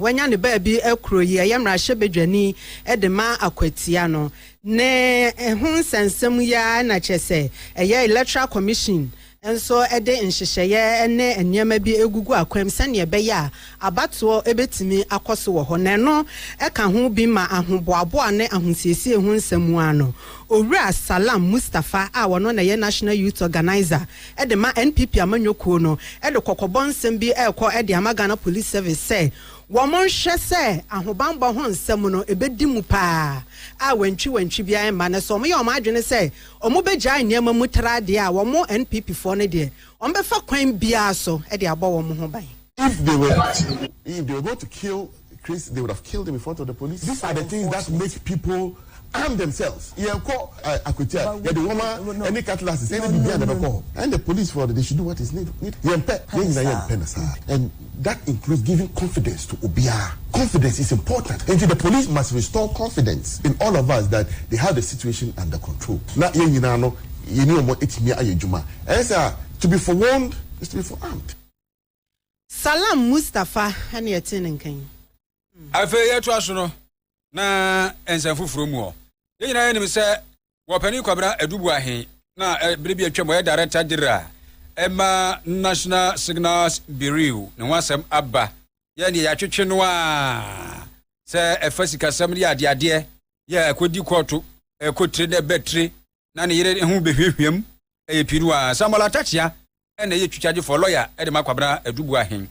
Wanya ne baabi kuro yi ɛyɛ mmarahyɛbadwani de ma akwatia no ne ho nsɛnsɛm yi ara na kyerɛ sɛ ɛyɛ Electoral Commission nso de nhyehyɛeɛ ne nneɛma bi gugu akwam sɛnea ɛbɛyɛ a abatoɔ bɛtumi akɔ so wɔ hɔ na ɛno ka ho bi ma ahoboaboa ne ahosiesie ho nsɛm mu ara no Owura Salam Mustapha a ɔno na ɛyɛ National Youth Organizer de ma NPP amanyɔ kuo no de kɔkɔbɔ nsɛm bi rekɔ de ama Ghana Police Service sɛ wɔnhwɛ sɛ ahobanbɔ ho nsɛm no ɛbɛdi mu pa ara a wantwi wantwi biara remma na sɛ wɔyɛ wɔn adwene sɛ wɔbɛgyae nneɛma mu tra deɛ a wɔn NPP foɔ no deɛ wɔbɛfa kwan biara so de abɔ wɔn ho ban. If they were if they were going to kill case they would have killed him in front of the police. These are the things that make people arm themselves. Yɛn kɔ akwatia yɛde nwoma ɛne cutlasses ɛne bibi a na bɛ kɔ. And the police for they should do what is need. Yɛn pɛ yɛn nyina yɛn pɛ na saa and that includes giving confidence to obiara. Confidence is important nti the police must restore confidence in all of us that they have the situation under control na yɛn nyina no yɛne wɔn atumi ayɛ adwuma. Ɛyɛ saa to be forewarned is to be forearmed. Salam Mustafa ne ɛte ne nka yi. Afei yɛtoa so no na nsɛm foforɔ mu hɔ. Yɛn nyinaa yɛnim sɛ wɔ Panin Kwabena Aduboahe na berɛ bi atwam ɔyɛ Director General ɛma National Signals Bureau ne ho asɛm aba. Yɛn deɛ yɛatwetwe no a sɛ ɛfa sikasɛm ne adeadeɛ yɛ ɛkɔdi kɔɔto ɛkɔtire na ɛbɛtire na ne yere ho bɛhwiahwiam ɛyɛ pii no a, Samuel Atakyea na ɛyɛ twitwagyefɔɔ, lawyer, de ma Kwabena Aduboahen.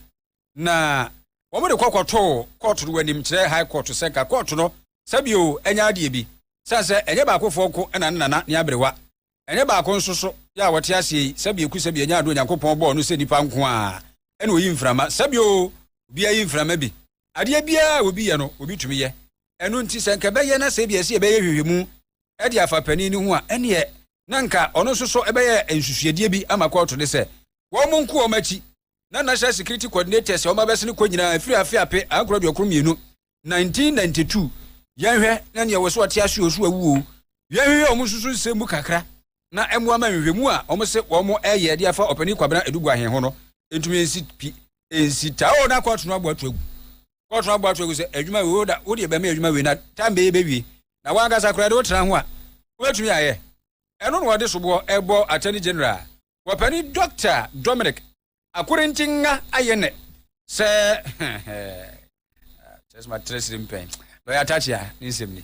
Na wɔde kɔ kɔtoo kɔɔto no anim kyerɛ High Court sɛ nka kɔɔto no sɛ bio ɛnyɛ adeɛ bi. Sane sɛ ɛnyɛ baakofoɔ nko na ne nana ne aberewa, ɛnyɛ baako nso so yɛ a wɔte aseɛ yi, sɛ bio ku sɛ bio ɛnyɛ adeɛ Onyankopɔn bɔɔ no sɛ nipa nko ara na ɔyi mframa, sɛ bio obiara yi mframa bi. Adeɛ biara a obi yɛ no, obi tumi yɛ. Ɛno nti, sɛ anka ɛbɛyɛ na sɛ ebia ɛsɛ sɛ yɛbɛyɛ nhwehwɛmu de afa panin no ho a, ɛnneɛ na anka ɔno nso so bɛyɛ nsusuadeɛ bi ama kɔɔto no sɛ wɔnko wɔn akyi na National Security Coordinators a wɔabɛsene kɔ nyinaa ɛfiri afe ape ankoro aduokron mmienu 1992 yɛnhwɛ na nea wɔ sɛ ɔte ase o so awu o yɛnhwehwɛ wɔn nso so nsɛm mu kakra na ɛmmoa ma nhwehwɛmu a wɔn se wɔn ɛyɛ de afa ɔpanin Kwabena Aduguahe ho no ntumi nsi pi nsi taa o na kɔɔto no abɔ ato agu kɔɔto abɔ ato agu sɛ adwuma wei woda wode bɛma adwuma wei na tam bɛyɛ bɛwie na wankasa koraa de wotena ho a wobɛtumi ayɛ ɛno na wɔde soboɔ ɛbɔ attorney general wɔpani Dr Dominic Akorintingha ayɛ nɛ sɛ kyerɛ sɛ matrɛ siri mpɛn lɔya Takyea ne nsɛm ni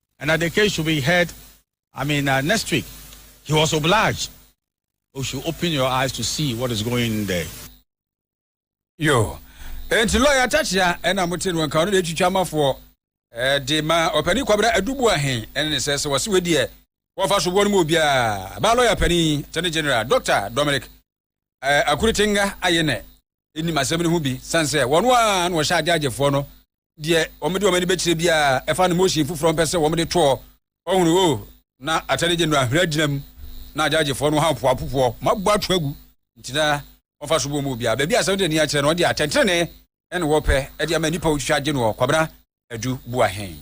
and that the case should be heard, I mean, uh, next week. He was obliged. You should open your eyes to see what is going in there. Yo, enti lawyer Tatia ɛna mo te no nka ɔno de atwitwa amafoɔ ɛde ma ɔpanin kwabra adubu ahen ɛne ne sɛ sɛ wɔse wei deɛ wɔfa so boɔ no mu obiara ba lawyer panin attorney general Doctor Dominic eh, Akuritenga ayɛ nɛ ɛnim asɛm no ho bi sane sɛ wɔn a na wɔhyɛ agyaagyefoɔ no deɛ wɔde wɔn ani bɛkyerɛ biara ɛfa no motion foforɔ mpɛ sɛ wɔde toɔ ɔhunu o na atɛne gye no ahwera gyina mu na agyaagyefoɔ no ha mpoapopoɔ mabɔ ato agu nti na wɔfa so bɔ mu obiara baabi asɛm de ani akyerɛ no wɔde atɛntene ne wɔpɛ de ama nnipa wɔtwitwa agye noɔ kwabena adu boahen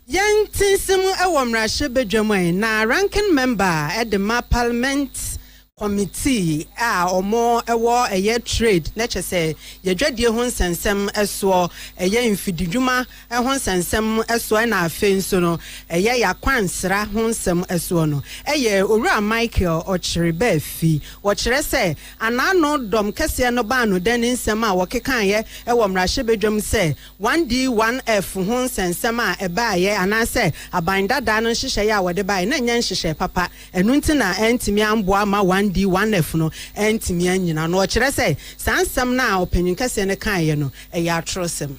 Yɛn te nsɛm wɔ mmarahyɛ badwam ɛ na ranking member de ma parliament committee a ɔmo wɔ ɛyɛ trade na kyɛ sɛ yɛdwadie ho nsɛnsɛm soɔ ɛyɛ mfididwuma ho nsɛnsɛm soɔ ɛna afei nso no ɛyɛ yakwansra ho nsɛm soɔ no ɛyɛ owura Michael ɔkyere bɛɛ fi wɔkyerɛ sɛ anaano dɔm kɛseɛ no baa no dɛn ne nsɛm a wɔkekaeɛ wɔ mmarahyɛ badwam sɛ 1D 1F ho nsɛnsɛm a ɛbaeɛ anaasɛ aban dadaa no nhyehyɛeɛ a wɔde baeɛ no nyɛ nhyehyɛe papa, ɛno nti na antumi amboa amma 1D 1F no antumi annyina ano. Ɔkyerɛ sɛ saa nsɛm no a ɔpanyin kɛseɛ no kaeɛ no, ɛyɛ atorɔsɛm.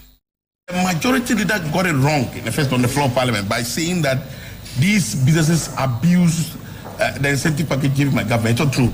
The majority leader got it wrong in the first on the floor of parliament by saying that these businesses abused the incentive package given by government, ɛtɔ turo.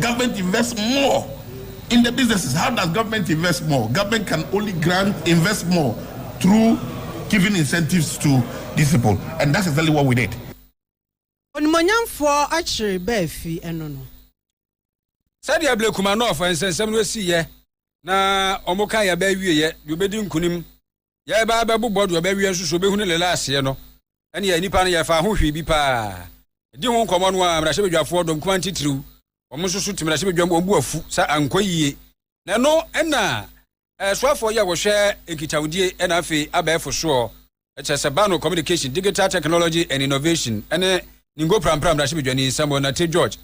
Government invest more in the businesses, how does government invest more? Government can only grant invest more through giving incentives to these people and that's exactly what we did. Onimuonyamfoɔ akyere bɛ afi ɛno no. Sɛdeɛ Blake Kumanov nsɛnsɛm no sii yɛ na wɔn kan yɛ bɛ awie yɛ deɛ ɔbɛdi nkunim yɛreba abɛbobɔ deɛ ɔbɛwea nso so ɔbɛhunu ne laaseɛ no, ɛnneɛ nnipa no yɛfaa ho hwee bi paa. Ɛdi ho nkɔmmɔ no a, mmarahyɛbadwafoɔ dɔm kumaa titiriw, wɔn nso so te mmarahyɛbadwam, wɔn bo afu sɛ ankɔ yie. Na ɛno na ɛsoafoɔ yi a wɔhwɛ nkitawodie ɛna afei abɛɛfo soɔ, ɛkyɛ sɛ Bano Communication, Digital Technology and Innovation ɛne Ningo Prampra mmarahyɛbadwani Samuel Nartey George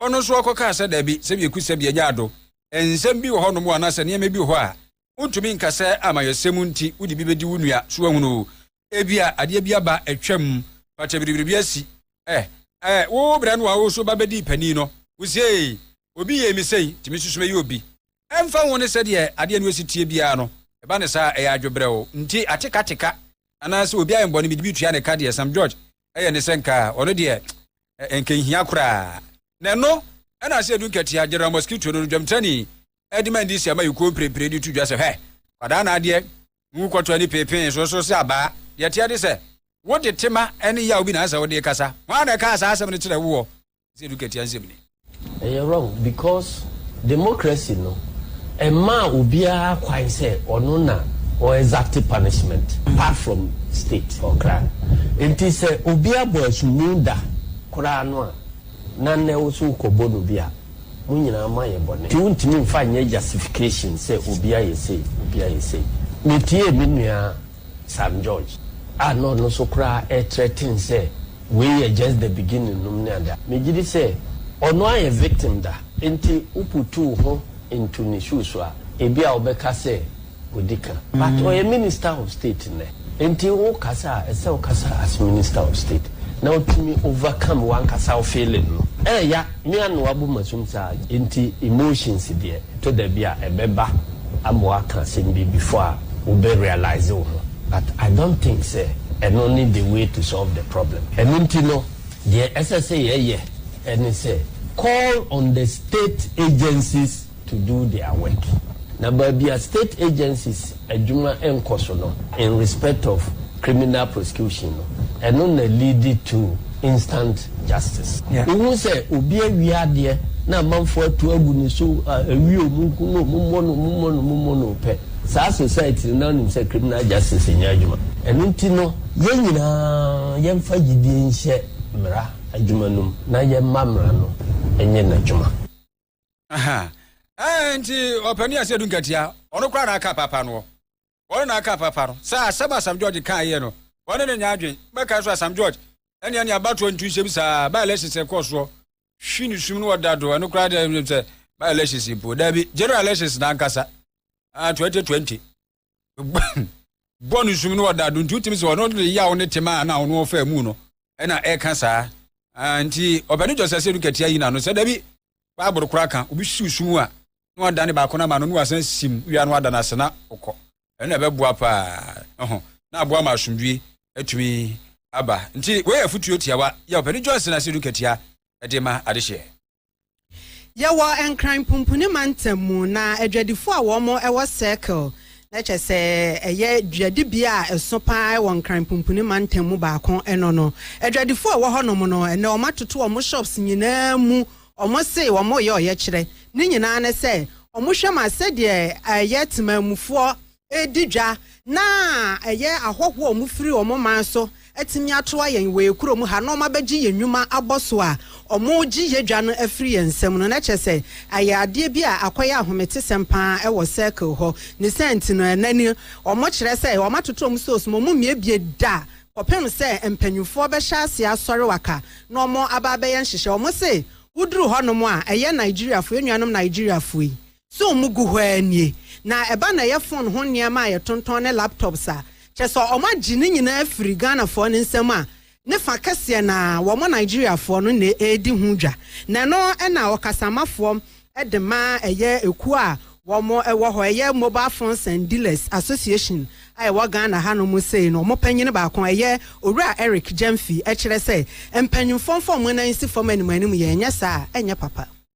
ɔno nso ɔkɔkaa sɛ, Dabi, sɛ bieku sɛ bia nya ado. Nsɛm bi wɔ hɔnom o, anaasɛ nneɛma bi wɔ hɔ a wontumi nka sɛ amayɛsɛm nti wode bi bɛdi wo nua, so woahunu o, ebia adeɛ bi aba atwam, pata biribiribi asi, eh, eh, wo berɛ no a wo nso ba bɛdii panin no, wosiee, obi yee me sei, nti me nso so mɛyɛ obi. Ɛmfa ho ne sɛdeɛ adeɛ no asi teɛ biara no, ɛba no saa a, ɛyɛ adwebrɛw nti atekateka anaasɛ obi ayɛ me bɔne mede bi tua ne ka deɛ, Sam George yɛ ne sɛ nka ɔno deɛ ɛnka nhia koraa. Na ɛno na ase adu nkatia, General Mosquito no, dwamtrani de ma ndc amayɛkuo mprempren de to dwa sɛ, hwɛ, kwadaa na adeɛ ngu kɔtɔ ani peepee so so sɛ abaa. Deɛ ɛteɛ ne sɛ, wode tema ne yaw bi na ɛsɛ sɛ wode kasa. Hwan na ɛkaa saa asɛm no kyerɛɛ woɔ? sɛ edu katua nsɛm ni. Ɛyɛ wrong because democracy no ɛmaa obiara kwan sɛ ɔno na ɔ exact punishment apart from state ɔkra nti sɛ obi abɔ asummu da koraa no a na nnɛ wo so wokɔbɔ no bi a mo nyinaa mo ayɛ bɔne nti wontumi mfa nyɛ justification sɛ obi ayɛ sei obi ayɛ sei metiee me nua Sam George a na ɔno nso koraa ɛretrɛten sɛ wei yɛ just the beginning nom ne ade a megye di sɛ ɔno ayɛ victim da. Nti woputu wo ho into ne shoe so a, ebia wobɛka sɛ wadi ka. But ɔyɛ Minister of State nnɛ. Nti wokasa a, ɛsɛ sɛ wokasa as Minister of State na wotumi overcome w'ankasa wo feeling no. Ɛyɛ ya, me anoa bo masum saa. Nti emotions deɛ, ɛtɔ da bi a ɛbɛba. ama w'aka asɛm bi before a wo bɛ realise wo ho but I don't think sɛ ɛno ne the way to solve the problem. Ɛno nti no deɛ ɛsɛ sɛ yɛ yɛ ɛne sɛ call on the state agencies to do their work na baabi a state agencies adwuma nkɔ so no in respect of criminal prosecution no, ɛno na leadi to instant justice. Wohu sɛ obi awie adeɛ na amanfoɔ atu agu ne so, awie o, monku no o, mommɔ no o, mommɔ no o, mommɔ no o pɛ. Saa society no, na wonim sɛ criminal justice nyɛ adwuma. Ɛno nti no, yɛn nyinaa yɛmfa gyidie nhyɛ mmara adwuma no mu na yɛmma mmara no nyɛ n'adwuma. Aha. Ɛɛ nti ɔpanin ase edu nkatia. Ɔno koraa na aka paapa no. Ɔno na aka paapa no. Sɛ asɛm Asam George kaa yɛ no, ɔne ne nyɛ adwen. Bɛka nso Asam George ɛnea ne abatoɔ ntu nhyɛ bi saa. By elections ɛkɔɔ soɔ. Hwi ne sum no ɔda do. Ɛno koraa deɛ sɛ by elections mpo. Daabi, general elections na ankasa. Ah, 2020. bɔ no sum no ɔda do nti wotumi sɛ ɔno de yaw ne tema a na ɔno ɔfa mu no ɛna ɛka saa nti ɔbɛne gyɔsa sɛ duka tia yi na no sɛ dabi baaboro koraa ka obi siw sum a na ɔda ne baako no ama no na wasan sim wia no ada no ase na ɔkɔ ɛna ɛbɛboa paa ɛho na aboa ma asomdwie atumi aba nti wei yɛ afotuo tiawa yɛ ɔpɛne gyɔsa sɛ duka tia ɛde ma adehyeɛ Yɛwɔ Nkran Pumpuni Mantam mu na adwadifo a wɔn wɔ Circle, na kyɛ sɛ ɛyɛ dwadibea a ɛso paa wɔ Nkran Pumpuni Mantam mu baako no no. Adwadifo a ɛwɔ hɔnom no, ɛnɛ wɔn atoto wɔn shops nyinaa mu. Wɔn se wɔn reyɛ ɔyɛkyerɛ. Ne nyinaa ne sɛ wɔn hwɛ ma sɛdeɛ ɛyɛ temanmufoɔ redi dwa na ɛyɛ ahɔhoɔ a wɔfiri wɔn man so atumi ato ayɛn wɔ yɛn kurom ha na wɔabɛgye yɛn nnwuma abɔ so a wɔregye yɛn dwa no afiri yɛn nsam no, na kyerɛ sɛ ayɛ adeɛ bi a akɔyɛ ahometesɛm pa ara wɔ circle hɔ. Ne saa nti no, ɛnnɛ ni wɔkyerɛ sɛ wɔatoto wɔn stores ma wɔmmiebie da kɔpem sɛ mpanimfoɔ bɛhyɛ aseɛ asɔre waka na wɔaba abɛyɛ nhyehyɛe. Wɔse woduru hɔnom a, ɛyɛ Nigeriafoɔ, yɛn nuanom Nigeriafoɔ yi So wɔn gu hɔ ara nie? Na ɛba na ɛyɛ phone ho nneɛma a yɛtontɔn ne laptops a, kyerɛ sɛ wɔn agye ne nyinaa afiri Ghanafoɔ no nsam a, ne fa kɛseɛ no ara, wɔn Nigeriafoɔ no na ɛredi ho dwa. Na ɛno na ɔkasamafoɔ de ma ɛyɛ ekuo a wɔn wɔ hɔ, ɛyɛ Mobile Phones and Dealers Association a ɛwɔ Ghana hanom sei no, wɔn panyin baako, ɛyɛ Owura Eric Gyamfi, kyerɛ sɛ, mpanimfoɔ mfa wɔn nan nsi fam animanimu, yɛn nyɛ saa a, ɛnyɛ papa.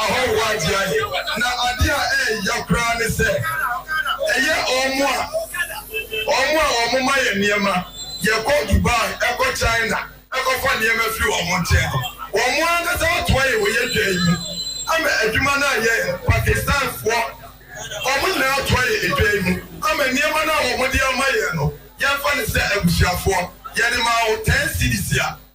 ahɔho ade ayɛ. Na ade a ɛyɛ ya koraa ne sɛ, ɛyɛ wɔn a wɔn a wɔma yɛn nneɛma, yɛkɔ Dubai, ɛkɔ China, ɛkɔfa nneɛma firi wɔn nkyɛn no, wɔn ankasa atoa yɛn wɔ yɛn dwa yi mu ama adwuma no ayɛ yɛn. Pakistanfoɔ, wɔn nyinaa atoa yɛn edwa yi mu ama nneɛma no a wɔde ama yɛn no, yɛmfa no sɛ abusuafoɔ, yɛde maa wo ten cedis a.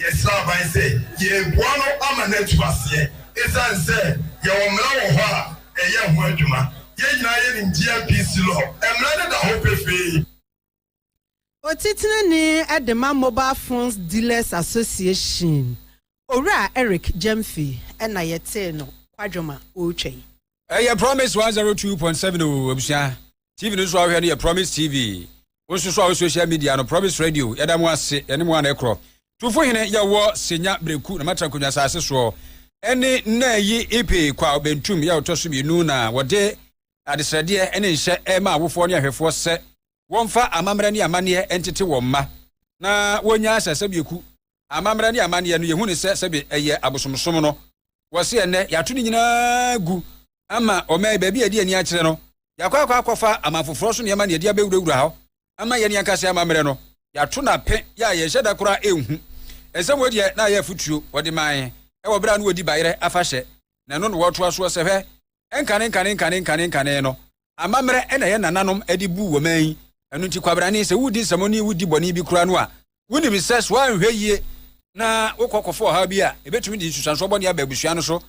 Yɛsrɛ aban sɛ yɛreboa no ama no atu aseɛ ɛsiane sɛ yɛwɔ mmara wɔ hɔ a ɛyɛ ho adwuma. Yɛn nyinaa yɛnim GMPC law, mmara no da hɔ pefee. Otitrani de ma Mobile Phones Dealers Association, Owura Eric Gyamfi na yɛtee no kwadwom a ɔretwa yi. ɛyɛ promise 102.7 o abusua tv no nso a wohwɛ no yɛ promise tv wo nso so a wo social media no promise radio yɛda mo ase yɛne mo ana ɛkorɔ tufo hene yɛwɔ senya breku na matra nkonnwa asase soɔ ɛne nna yi ipe kwa bentum yɛ ɔtɔ so mmienu na wɔde adesrɛdeɛ ɛne nhyɛ ɛma awofoɔ ne ahwɛfoɔ sɛ wɔmfa amammerɛ ne amanneɛ ntete wɔn mma na wɔnya asasɛ bieku amammerɛ ne amanneɛ no, yɛhu no sɛ sɛbe ɛyɛ abosomsom no. Wɔse ɛnnɛ yɛato ne nyinaa agu ama ɔman yi, baabi a ɛde ani akyerɛ no, yɛakɔ akɔ akɔfa aman foforɔ so nneɛma na yɛde abɛwurawura hɔ ama yɛn ankasa amammerɛ no, yɛato no ape yɛ a yɛnhyɛ da koraa nhu. Nsɛm wei deɛ na ayɛ afotuo wɔde mae wɔ berɛ a na wɔdi bayerɛ afahyɛ na ɛno na wɔtoa soɔ sɛ, Hwɛ, ɛnkanenkane nkanenkane nkanenkane no, Amammerɛ na yɛn nananom de buu wɔn man yi. Ɛno nti, kwabrane, sɛ woredi nsɛmmɔne, wodi bɔne bi koraa no a, wonim sɛ so anhwɛ yie na wokɔ kɔfa ɔhaw bi a, ɛbɛtumi de nsusuansoɔ bɔne aba abusua no so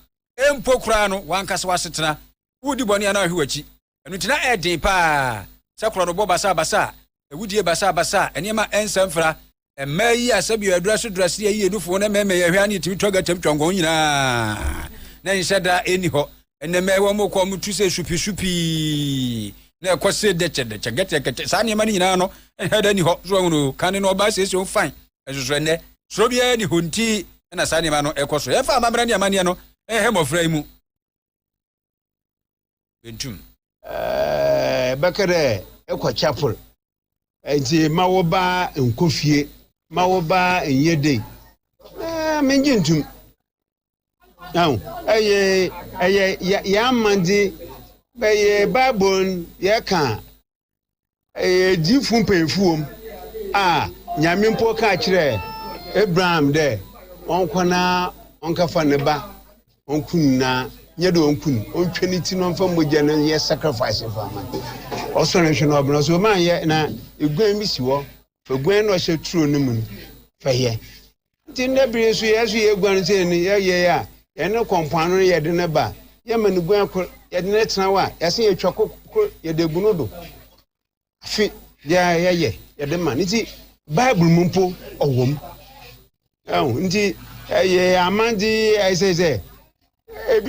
mpo koraa no, w'ankasa w'asetena. Woredi bɔne a na woahwe w'akyi. Ɛno nti, na ɛyɛ den pa ara sɛ korɔnobɔ basabasa, awudie basabasa, nneɛma a ɛnsɛ mfra, Mmaa yi a sɛbi adura so dura seɛ yi yɛ nufoɔ na mmarima yɛ hwɛ ane tumi twa gatam twa nkɔn nyinaa na nhyɛ da ɛni hɔ ɛnɛ mmaa wɔn mokɔ wɔn tu sɛ supi supi na ɛkɔ se dɛkyɛ dɛkyɛ gɛtɛ gɛtɛ saa nneɛma no nyinaa no ɛnhyɛ da ɛni hɔ so wɔn no kane no ɔbaa siesie wɔn fain ɛsoso ɛnɛ soro biara ni hɔ nti ɛna saa nneɛma no ɛkɔ so yɛfa amammerɛ ne amanneɛ no ɛhɛ mmɔfra yi mu bentum. Ɛɛ, bɛkɛ dɛ ekɔ chapel, ntsi ma wo ba nkɔ fie, ma wo ba nyɛ dei. Ɛɛ, menngye ntum. Ahu, ɛyɛ, ɛyɛ yɛ, yɛ amandze, bɛyɛ Bible n' yɛkã Ɛyɛ edzifo mpanyimfo wɔ mu a, Nyame mpo kaa kyerɛɛ Abraham dɛ ɔnkɔ na ɔnkɛfa ne ba ɔnku no, na nnyɛ dɛ ɔnku no, ɔntwa ne tsir na ɔmfa mbɔgya no nyɛ sacrifice mfa mma no. Ɔsɔr nhwɛ na ɔbɛn, ɔse, Ɔmanyɛ, na eguan bi si hɔ, fa guan no na ɔhyɛ turo no mu no fa yɛ. Nti ndɛ ber yi nso yɛso yeguan sɛ no yɛyɛ a yɛne kɔ mpoano no yɛde no ba a yɛma no guan kor yɛde no tsena hɔ a yɛsan yɛtwa kor kor yɛde gu no do afe biara yɛyɛ yɛde ma no ntsi bible mu mpo ɔwɔ mu nti yɛ amandze yɛ sɛ sɛ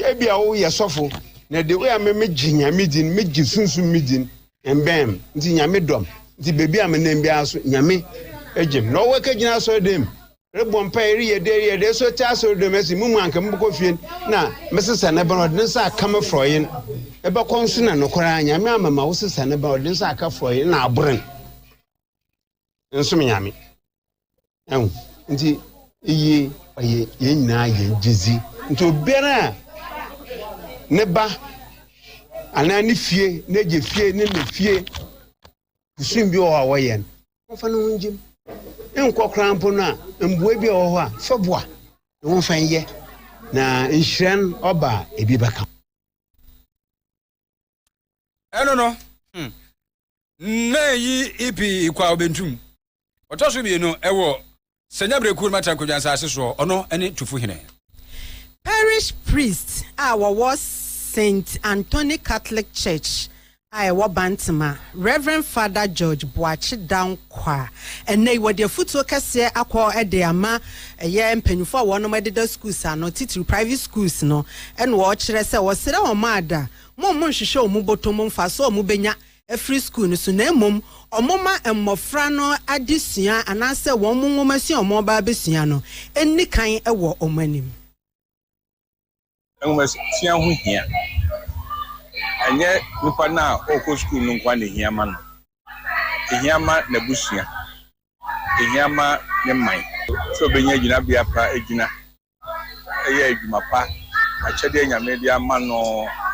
Ebi a woyɛ sɔfo na de woyɛ me megye nyame din megye sunsun me din mbɛn nti nyame dɔm nti beebi a menam biara so nyame egye m na ɔwɔ ka gyina asɔre dɛm rebɔ mpa ereyɛ dɛ ereyɛ dɛ so te asɔre dɛm ɛsi mu mu anka mobɛkɔ fie na mesesa ne bɛn ɔde ne nsa aka me frɔyen ɛbɛkɔ nso na nokwara nyame amama wo sesa ne bɛn ɔde ne nsa aka frɔyen na aboren nsom nyame ɛho nti eye ɔyɛ yɛn nyinaa yɛn gyedzi nti obiara a ne ba anaa ne fie n'agya fie ne ne fie kusum bi wɔ hɔ a wɔyɛ no wɔmfa ne ho ngyem nkɔ koraa mpo no a mboa bi a wɔ hɔ a fa boa ne ho mfa nyɛ na nhyira no ɔba a ebi bɛka ɛno no hmm, na yi ipi ikwa obentum ɔtɔ so mmienu ɛwɔ sɛnya berɛkuo no matra nkwadwa nsase soɔ ɔno ɛne tufo hene parish priest a wɔwɔ st anthony catholic church a ɛwɔ bantama reverend father george boakye dankwa kwa. Ɛnnɛ yi wɔde afutuo kɛseɛ akɔ de ama ɛyɛ mpanyinfoɔ a wɔnom ɛdeda schools ano titiriw private schools no ɛna wɔkyerɛ sɛ wɔsrɛ wɔn ada mo wɔn nhwehwɛ wɔn botom mfasoɔ a wɔn bɛnya afiri school no so na mmom wɔn ma mmɔfra no adesua anaasɛ wɔn nwomasua a wɔn ba abɛsua no nni kan wɔ wɔn anim. Nhomasua ho hia. Ɛnyɛ nipa no a ɔrekɔ sukuu no nko ara na ehia ma no. Ehia ma n'abusua. Ehia ma ne man. Sɛ obenya gyinabea pa gyina, yɛ adwuma pa, akyɛde a Nyame de ama no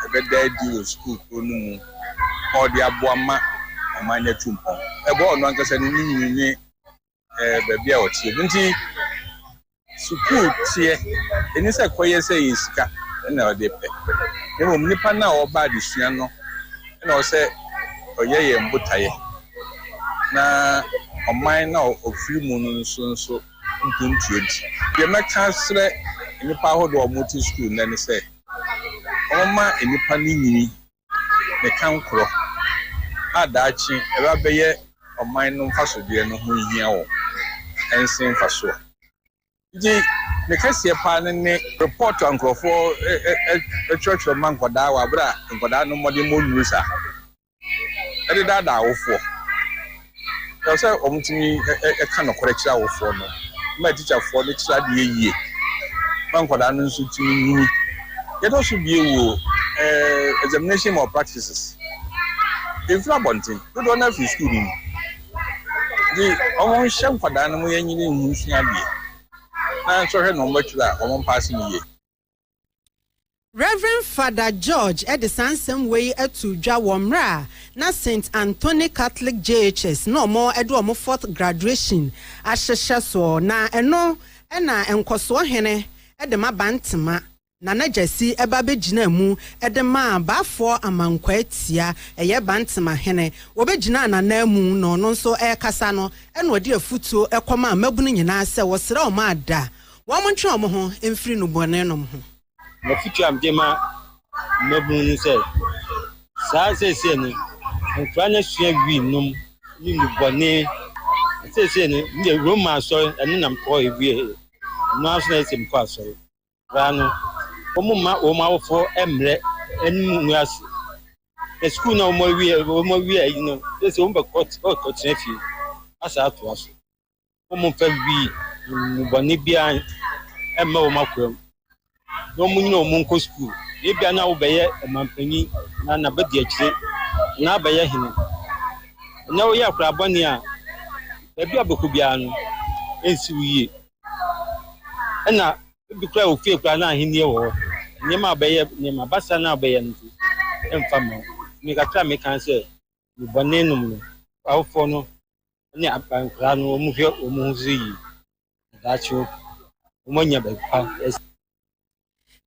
ɛbɛda adi wɔ sukuu koro no mu ma ɔde aboa ma ɔman no atu mpɔn. Ɛboa ɔno ankasa ne ne nwini ne ɛɛ baabi a ɔteɛ no nti sukuu teɛ ɛni sɛ kɔyɛ sɛ yɛ sika ɛna ɔde pɛ na mmom nipa no a ɔba adesua no ɛna ɔsɛ ɔyɛ yɛn botaeɛ na ɔman no a ɔfiri mu no nso nso mpuntuo nti deɛ mɛka serɛ nnipa ahodoɔ a wɔte sukuu nnɛ ne sɛ wɔma nnipa no nyini ne kankorɔ a daakye ɛbɛ abɛyɛ ɔman no mfasodeɛ no ho hia wɔn ɛnsen mfasoɔ. Nti ne kɛseɛ paa no ne report a nkorɔfoɔ twerɛtwerɛ ma nkwadaa wɔ aberɛ a nkwadaa no mmɔdenmɔ nnuru saa ɛde daadaa awofoɔ Ɛwɔ sɛ wɔtumi ka nokorɛ kyerɛ awofoɔ no ma atikyafoɔ no kyerɛ adeɛ yie ma nkwadaa no nso tumi nyini. Yɛdɔ so bie wɔ examination malpractices. Ɛmfiri abɔnten, dodoɔ no ara firi sukuu no mu. Nti wɔnhyɛ nkwadaa no ma yɛnyini nhu nsua adeɛ na nso hwɛ na wɔatwerɛ a wɔmpaase no yie. Rev. Fada George de saa nsɛm wei too dwa wɔ mmerɛ a na Saint Anthony Catholic JHS na wɔde wɔn fourth graduation ahyehyɛ soɔ, na ɛno na Nkɔsoɔ Hene de ma Bantema Nana Gyasi ba bɛgyinaa mu de maa Baafoɔ Amankwaa Tia, ɛyɛ Bantema Hene, wɔbɛgyinaa n'ananmu na ɔno nso rekasa no na ɔde afutuo kɔmaa mmabunu nyinaa sɛ wɔsrɛ wɔn ada Wɔntwe wɔn ho mfiri nnubɔnenom ho. M'afotu a mede ma mmabun ne sɛ, saa seesei no, nkwadaa no asua wii nom ne nnubɔne. Na seesei no, me deɛ Roma asɔre, ɛno na mekɔ ewie. Ɛno ara nso na ɛyɛ sɛ mekɔ asɔre. Nkwadaa no, wɔmma wɔn awofoɔ mmrɛ anim ngu ase. Na sukuu no a wɔawie, wɔawie ayi no, seesei wɔbɛkɔ, wɔbɛkɔtena fie asa atoa so. wɔmmfa nwi nnubɔne biara mmɛ wɔn akoa mu, na wɔnyina wɔn nkɔ sukuu. Ebia na wobɛyɛ ɔmampanyin na na bedi akyire na abɛyɛ hene. Na woyɛ akora bɔne a, baabi a wobɛkɔ biara no, ensi wo yie. Ɛna ebi koraa wɔ fie koraa na ahenni wɔ hɔ. Nneɛma a wobɛyɛ, nneɛma basa no a wobɛyɛ no nso, ɛmfa mma wo. Nti me kakra a meka ne sɛ, nnubɔne nom no, awofo no ne nkwadaa no wɔhwɛ wɔn ho so yie. Daakye wɔanya baabi pa asi.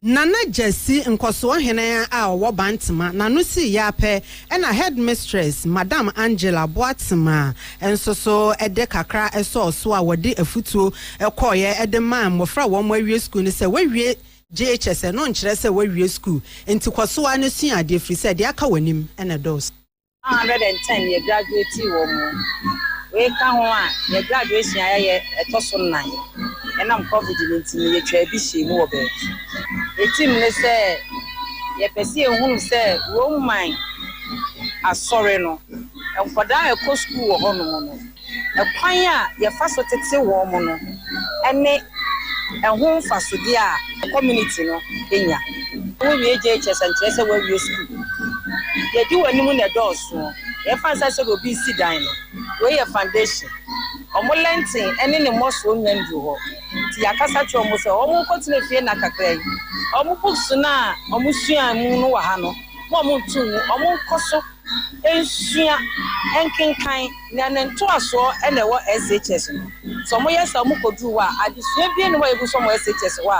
Nana Gyasi, nkɔsoɔ hene a ɔwɔ Bantema, n'ano sii yɛ ara pɛ, ɛnna headmistress, Madam Angela Boatema, nso so de kakra sɔɔ so a wɔde afutuo kɔeɛ de maa mmɔfra a wɔawie sukuu no sɛ woawie JHS, ɛno nkyerɛ sɛ woawie sukuu, enti kɔ so ara na sua adeɛ ɛfiri sɛ deɛ aka w'anim na ɛdɔɔso. One hundred and ten yɛ graduatii wɔ mu. Wei ka ho a, yɛ graduation a yɛayɛ ɛtɔ so nnan. Ɛnam covid no nti no, yɛtwaa bi hyɛɛ mu wɔ baabi. Yɛ team ne sɛ yɛpɛ sɛ yɛhunu sɛ Roman Asɔre no, nkwadaa a ɛkɔ sukuu wɔ hɔnom no, Kwan a yɛfa so tete wɔn no ne ɛho mfasodeɛ a community no nya. Wo wie JHS a nkyerɛ sɛ woawie sukuu. Deɛ ɛdi w'anim na ɛdɔɔso. Deɛ ɛfa nsa hyɛ deɛ obi resi dan no, wei yɛ foundation. Wɔn lɛnten ne ne mmɔsoɔ nnya nnuru hɔ. Nti yɛakasa akyerɛ wɔn sɛ wɔn nkɔtena fie nna kakra yi. Wɔn books no a wɔsuaa mu no wɔ ha no, mma wɔn nto ngu. Wɔn nkɔ so. Nsua, nkenkan, na ne ntoasoɔ na ɛwɔ SHS no. Sɛ wɔyɛ saa a wɔkɔduru hɔ a, adesua biara nni hɔ a yɛgu so wɔ SHS hɔ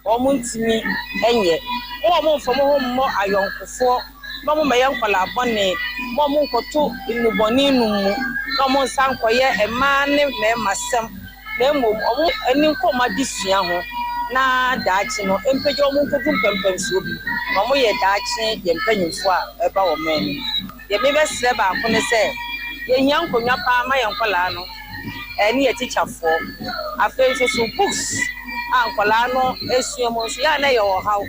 a wɔntumi nyɛ. Momma mommfa mo ho mmɔ ayɔnkofoɔ, na mommɛyɛ nkwadaa bɔne, momma monnkɔto nnubɔne nom mu, na monsan nkɔyɛ mmaa ne mmarima sɛm. na mmom wɔn ani nkɔ wɔn adesua ho na daakye no mpagya wɔn nkɔdu mpɛmpɛnsoɔ bi na wɔyɛ daakye yɛn mpanimfoɔ a ɛreba wɔn anim. Deɛ mebɛsrɛ baako ne sɛ, yɛhia nkonnwa pa ara ma yɛn nkwadaa no ne yɛn atikyafoɔ. Afei nso so books a nkwadaa no sua mu nso, yɛ a na ɛyɛ ɔhaw.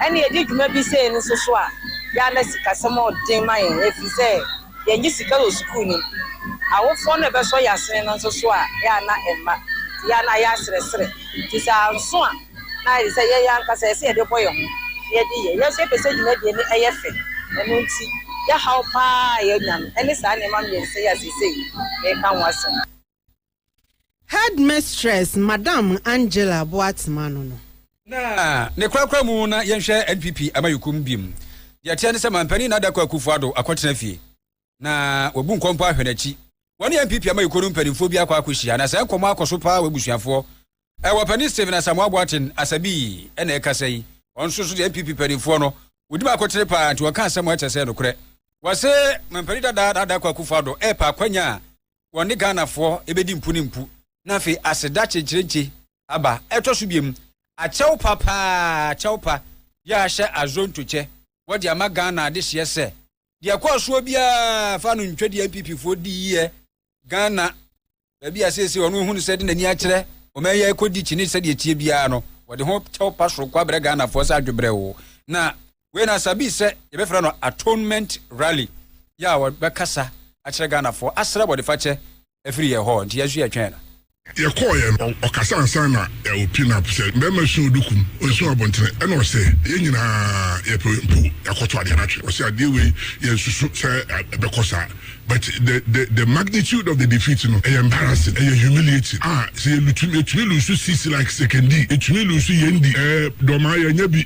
Ɛnna yɛdi dwuma bi sei nso so a, yɛ a na sikasɛm yɛ den ma yɛn ɛfiri sɛ, yɛnngye sika wɔ sukuu no mu. Awofoɔ no bɛsɔ yɛ asene no nso so a, yɛ a na ɛmma. Nti yɛ a na ayɛ aserɛserɛ. Nti sɛ anso a, na ayɛ te sɛ yɛn ankasa yɛ sɛ yɛde bɔ yɛ ho na yɛde yɛ. Yɛn nso yɛpɛ sɛ dwumadie no ɛyɛ fɛ. Ɛno nti, yɛ haw pa ara a yɛnya no, ɛne saa nneɛma mmiɛnsa yi a seesei mereka ho asɛm. Headmistress Madam Angela Boatsema ano no. Na ne korakora mu na yɛnhwɛ NPP Amanyɔkuom biom. Deɛ ɛteɛ ne sɛ Manpanin Nana Dankwa Akufo Addo akɔtena fie na wabu nkɔ mpo ahwɛ n'akyi. Wɔne NPP Amanyɔkuo no mpanimfoɔ bi akɔ akɔhyia na saa nkɔmmɔ akɔ so paa w'abusuafoɔ. Ɛwɔ Panin Stephen Asamoah Boaten Asabii na ɛkasa yi. Ɔno nso so deɛ NPP mpanimfoɔ no wɔdim akotene paa nti ɔka asɛm a ɛkyɛ sɛ nokorɛ. Wɔse Manpanin Dada Nana Dankwa Akufo Addo repɛ akwanya a wɔne Ghanafoɔ bɛdi mpo ne mpo na afei aseda kyenkyerenkye aba. Ɛtɔ so biom, akyɛw pa paa, kyɛw pa, yɛahyɛ Azonto kyɛ, wɔde ama Ghana adehyeɛ sɛ, deɛ ɛkɔɔ soɔ biara fa no ntwa deɛ NPPfoɔ diiɛ Ghana, baabi a seesei wɔn ahunu sɛ de n'ani akyerɛ ɔman yi a ɛkɔdi kyene sɛdeɛ ɛteɛ biara no, wɔde ho kyɛw pa soronko abrɛ Ghanafoɔ sɛ adwebrɛw na Wei no ansa bi sɛ yɛbɛfrɛ no Atonement Rally yi a wɔbɛkasa akyerɛ Ghanafoɔ asrɛ bɔnefakyɛ afiri yɛn hɔ nti yɛn nso yɛtwɛn no. Yɛkɔɔeɛ no, ɔkasa ansa na ɔrepi no apo sɛ mmarima nson ɔdu kum, nson abɔntene ɛna ɔsɛ yɛn nyinaa yɛpɛ mpo yɛakɔto adeɛ no atwe. Ɔsɛ adeɛ wei yɛnsusu sɛ ɛbɛkɔ saa but the the the magnitude of the defeat no ɛyɛ embarrassing, ɛyɛ humiliating a sɛ yɛlutu yɛtumi lusu sisi like Sekondi, yɛtumi lusu Yendi, ɛɛ Dormaa yɛanya bi.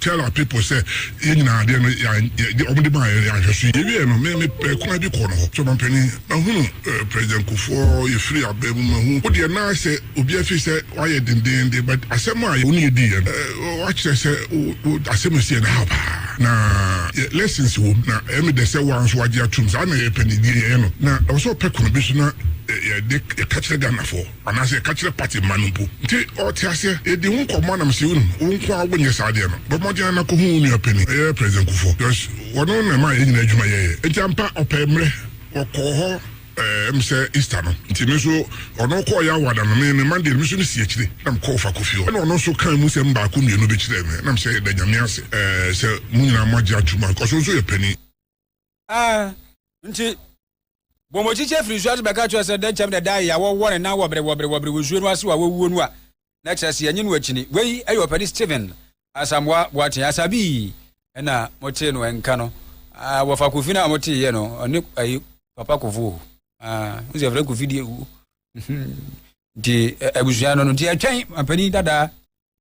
Tell our people sɛ yɛn nyinaa adeɛ no yɛ wɔn de maa yɛn yɛn ahwɛ so yɛ wie no me me pɛ kwan bi kɔ no hɔ so ɔmampanin mahunu eh, president kufuɔ yɛfiri abɛn mu mahu wo deɛ naa sɛ obi afiri sɛ wayɛ dendeenden but asɛm a wo ne yɛdi yɛ no eh, wakyerɛ sɛ wo asɛm ɛsi yɛ no ha paa na yɛ lessons wom na ɛmi dɛ sɛ wɔn nso wagye atum saa na yɛpɛ ne die yɛyɛ no na ɛwɔ sɛ ɔpɛ kwan bi so na eh, yɛde yɛka kyerɛ ghanafoɔ Anaasɛ ka kyerɛ party mma no mpo. Nti ɔte aseɛ. Yɛdi ho nkɔmmɔ anam sɛ wonnim. Wo nko ara wonyɛ saa adeɛ no. Bɔ mmɔden ara na kɔhu wo nua panin, ɛyɛ President Kufuor. Because ɔno na ɛmaa yɛn nyinaa adwuma yɛeɛ. Nti ampa, ɔpɛɛ mmerɛ. Ɔkɔɔ hɔ ɛɛ ɛm sɛ Easter no. Nti me nso, ɔno kɔɔ yɛ award ano. Me, me Monday no, me nso me si akyire. Na me kɔɔ Fakofi hɔ. Ɛna ɔno nso kaa emu sɛm baako mmienu bi kyerɛɛ me. Ɛna me sɛ, yɛda Nyame ase ɛɛ sɛ mo nyinaa moagye atom. Because wo nso yɛ panin. nti bɔ mo kyikyɛ firi nsuo ase bɛka kyerɛ sɛ dɛn kyɛm na ɛda yɛ a wɔwɔ ne nan wɔbere wɔbere wɔbere wɔ nsuo no ase wɔ a wɔwuo no a na kyerɛ sɛ yɛnye no akyini wei ɛyɛ ɔpɛni Stephen Asamoah Boateng Asabii ɛna motee no ɛnka no wɔfa kofi no a motee yɛ no ɔne ɛyi papa kofo n sɛ ɛfrɛ kofi deɛ wuo nti abusua no no nti ɛtwɛn ɔpɛni dadaa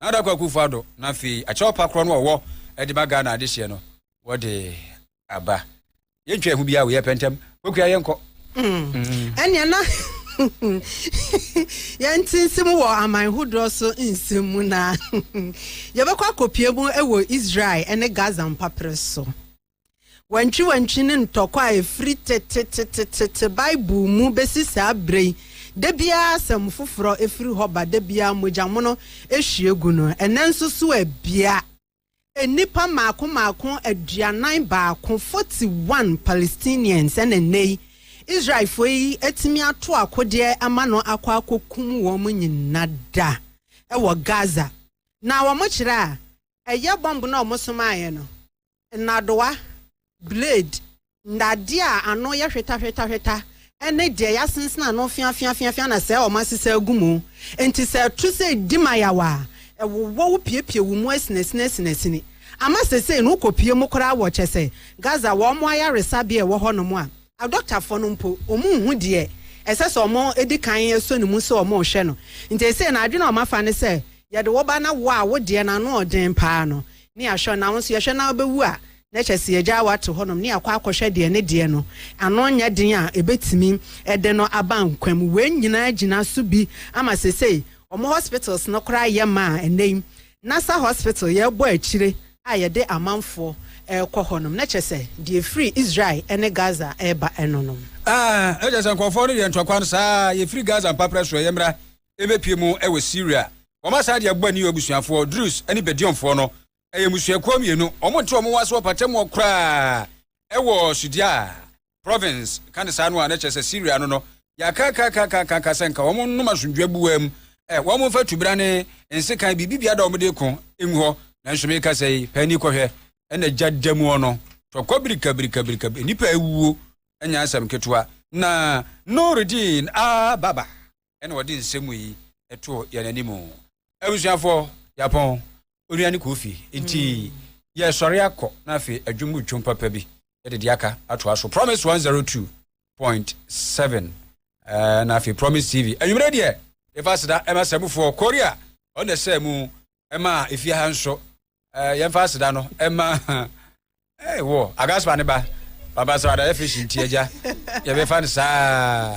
na Addo Akufo-Addo na afei akyerɛw pa korɔ no a ɔwɔ de ma Ghana adehyeɛ no wɔde aba. Yɛntwa yɛn ho biara wei yɛpɛ ntɛm Kokwia yɛnkɔ. Mm. Ɛnea na yɛnte nsɛm wɔ aman hodoɔ so nsɛm mu na yɛbɛkɔ akɔpie mu wɔ Israel ne Gaza mpaperɛ so. Wantwiwantwi ne ntɔkwa a ɛfiri tetetetete Bible mu bɛsi saa berɛ yi, da biara asɛm foforɔ firi hɔ ba, da biara mogyamono hwie gu no. Ɛnnɛ nso so abia, nnipa mmaako mmaako aduanan baako, 41 Palestinians, ɛna ɛnnɛ yi Israelfoɔ yi atumi ato akodeɛ ama no akɔ akɔkum wɔn nyina da wɔ Gaza. Na wɔkyerɛ a ɛyɛ bɔmb no a wɔsomaeɛ no, nnadewa, blade, nnadeɛ a ano yɛ hwetahwetahweta ne deɛ yɛasensene ano feafeafeafea na sɛɛ wɔasesa agu mu. Enti sɛ ɛto sɛ ɛdi mayaw a, ɛwowɔ wo piepie wo mu asinasinasinasini. Ama seesei no wokɔpue mu koraa wɔ kyɛ sɛ Gaza wɔn ayaresabea a ɛwɔ hɔnom a, adɔktafoɔ no mpo wɔnhu deɛ ɛsɛ sɛ wɔdi kan sɔ ne mu sɛ wɔrehwɛ no. Enti seesei no adwene a wɔafa ne sɛ yɛde wo ba na wo a wo deɛ no ano yɛ den paa no ne ahwɛ na wo nso yɛhwɛ na wobɛwu a, na kyerɛ sɛ yɛagyaa wo ato hɔnom ne yɛakɔ akɔhwɛ deɛ ne deɛ no ano nyɛ den a ɛbɛtumi de no aba nkwa mu. Wei nyinaa gyina so bi ama seesei wɔn hospitals no koraa yɛ ma a ɛnnɛ yi Nasser Hospital yɛrebɔ akyire a yɛde amanfoɔ rekɔ hɔnom, na kyerɛ sɛ deɛ ɛfiri Israel ne Gaza reba no nom. Ah, ɛkyerɛ sɛ nkurɔfoɔ no yɛ ntɔkwa no saa ara, yɛfiri Gaza mpaprɛ soɔ, yɛmmra. rebɛpue mu wɔ Siria. Wɔasan de abɔ ne abusuafoɔ, Drus ne Bedionfoɔ no. Ɛyɛ mmusuakuo mmienu. Wɔnte wɔn ase wɔ mpatamuɔ koraa wɔ Sudiaa province, ka ne saa no a, na kyerɛ sɛ Siria no no yɛakaakaakaakaaka sɛ nka wɔn nnom asomdwoeɛ boa mu, ɛ, wɔn mfa tubena ne nsekan biribibiara da wɔn de ko ngu hɔ. Nanso meka sɛ yi, pɛ ani kɔhwɛ, ɛna gya da mu ɔno, tɔkɔ birikabirikabirika, nnipa awuo, ɛnyɛ asɛm ketewa. Na Noredin Aa Baba. ɛna ɔde nsɛm yi ɛto yɛn anim. Abusuafo yapɔn onua ne kofi nti yɛ sɔre akɔ na afei adwom mu twom papa bi yɛde de aka atoa so promise 102.7 ɛɛ na afei promise tv anwumere deɛ yɛfa seda ɛma sɛmufoɔ korea ɔna sɛ mu ɛma efie ha nso ɛɛ yɛmfa aseda no ɛma ɛɛ wɔ agaspa ne ba pampasrada yɛ fish nti agya yɛbɛfa no saa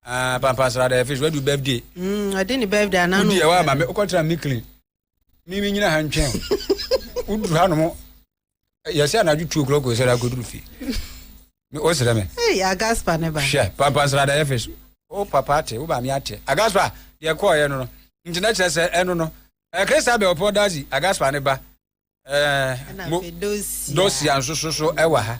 ɛɛ pampasrada yɛ fish wadu birthday. Mm, ɔde ne birthday anaa no. wodi ɛwɔ ama mi okɔtara mi clean mi mi nyina ha ntwɛn woduru ha nom yɛsɛ anadwo tuo kurɔ kɔsɛ da akɔduru fie wosrɛ me agaspa ne ba hwɛ pampa nsrada yɛfe so wo papa ate wo maame ate agaspa deɛ kɔɔyɛ no no nti na kyerɛ sɛ ɛno no krista bɛ ɔpɔ dazi agaspa ne ba dosia nso so so ɛwɔ ha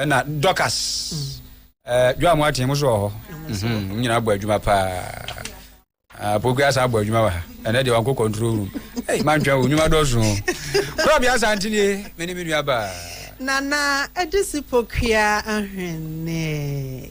ɛna dɔkas dwa mo aten mo so wɔ hɔ mhm, mo nyinaa bɔ adwuma paa ah, pokua saa bɔ adwuma wɔ ha ɛnɛ deɛ wankɔ control room mantwɛn wo nnwuma dɔso kora bia saa nti nie me ne me nua baa nana ɛde si pokua ahwene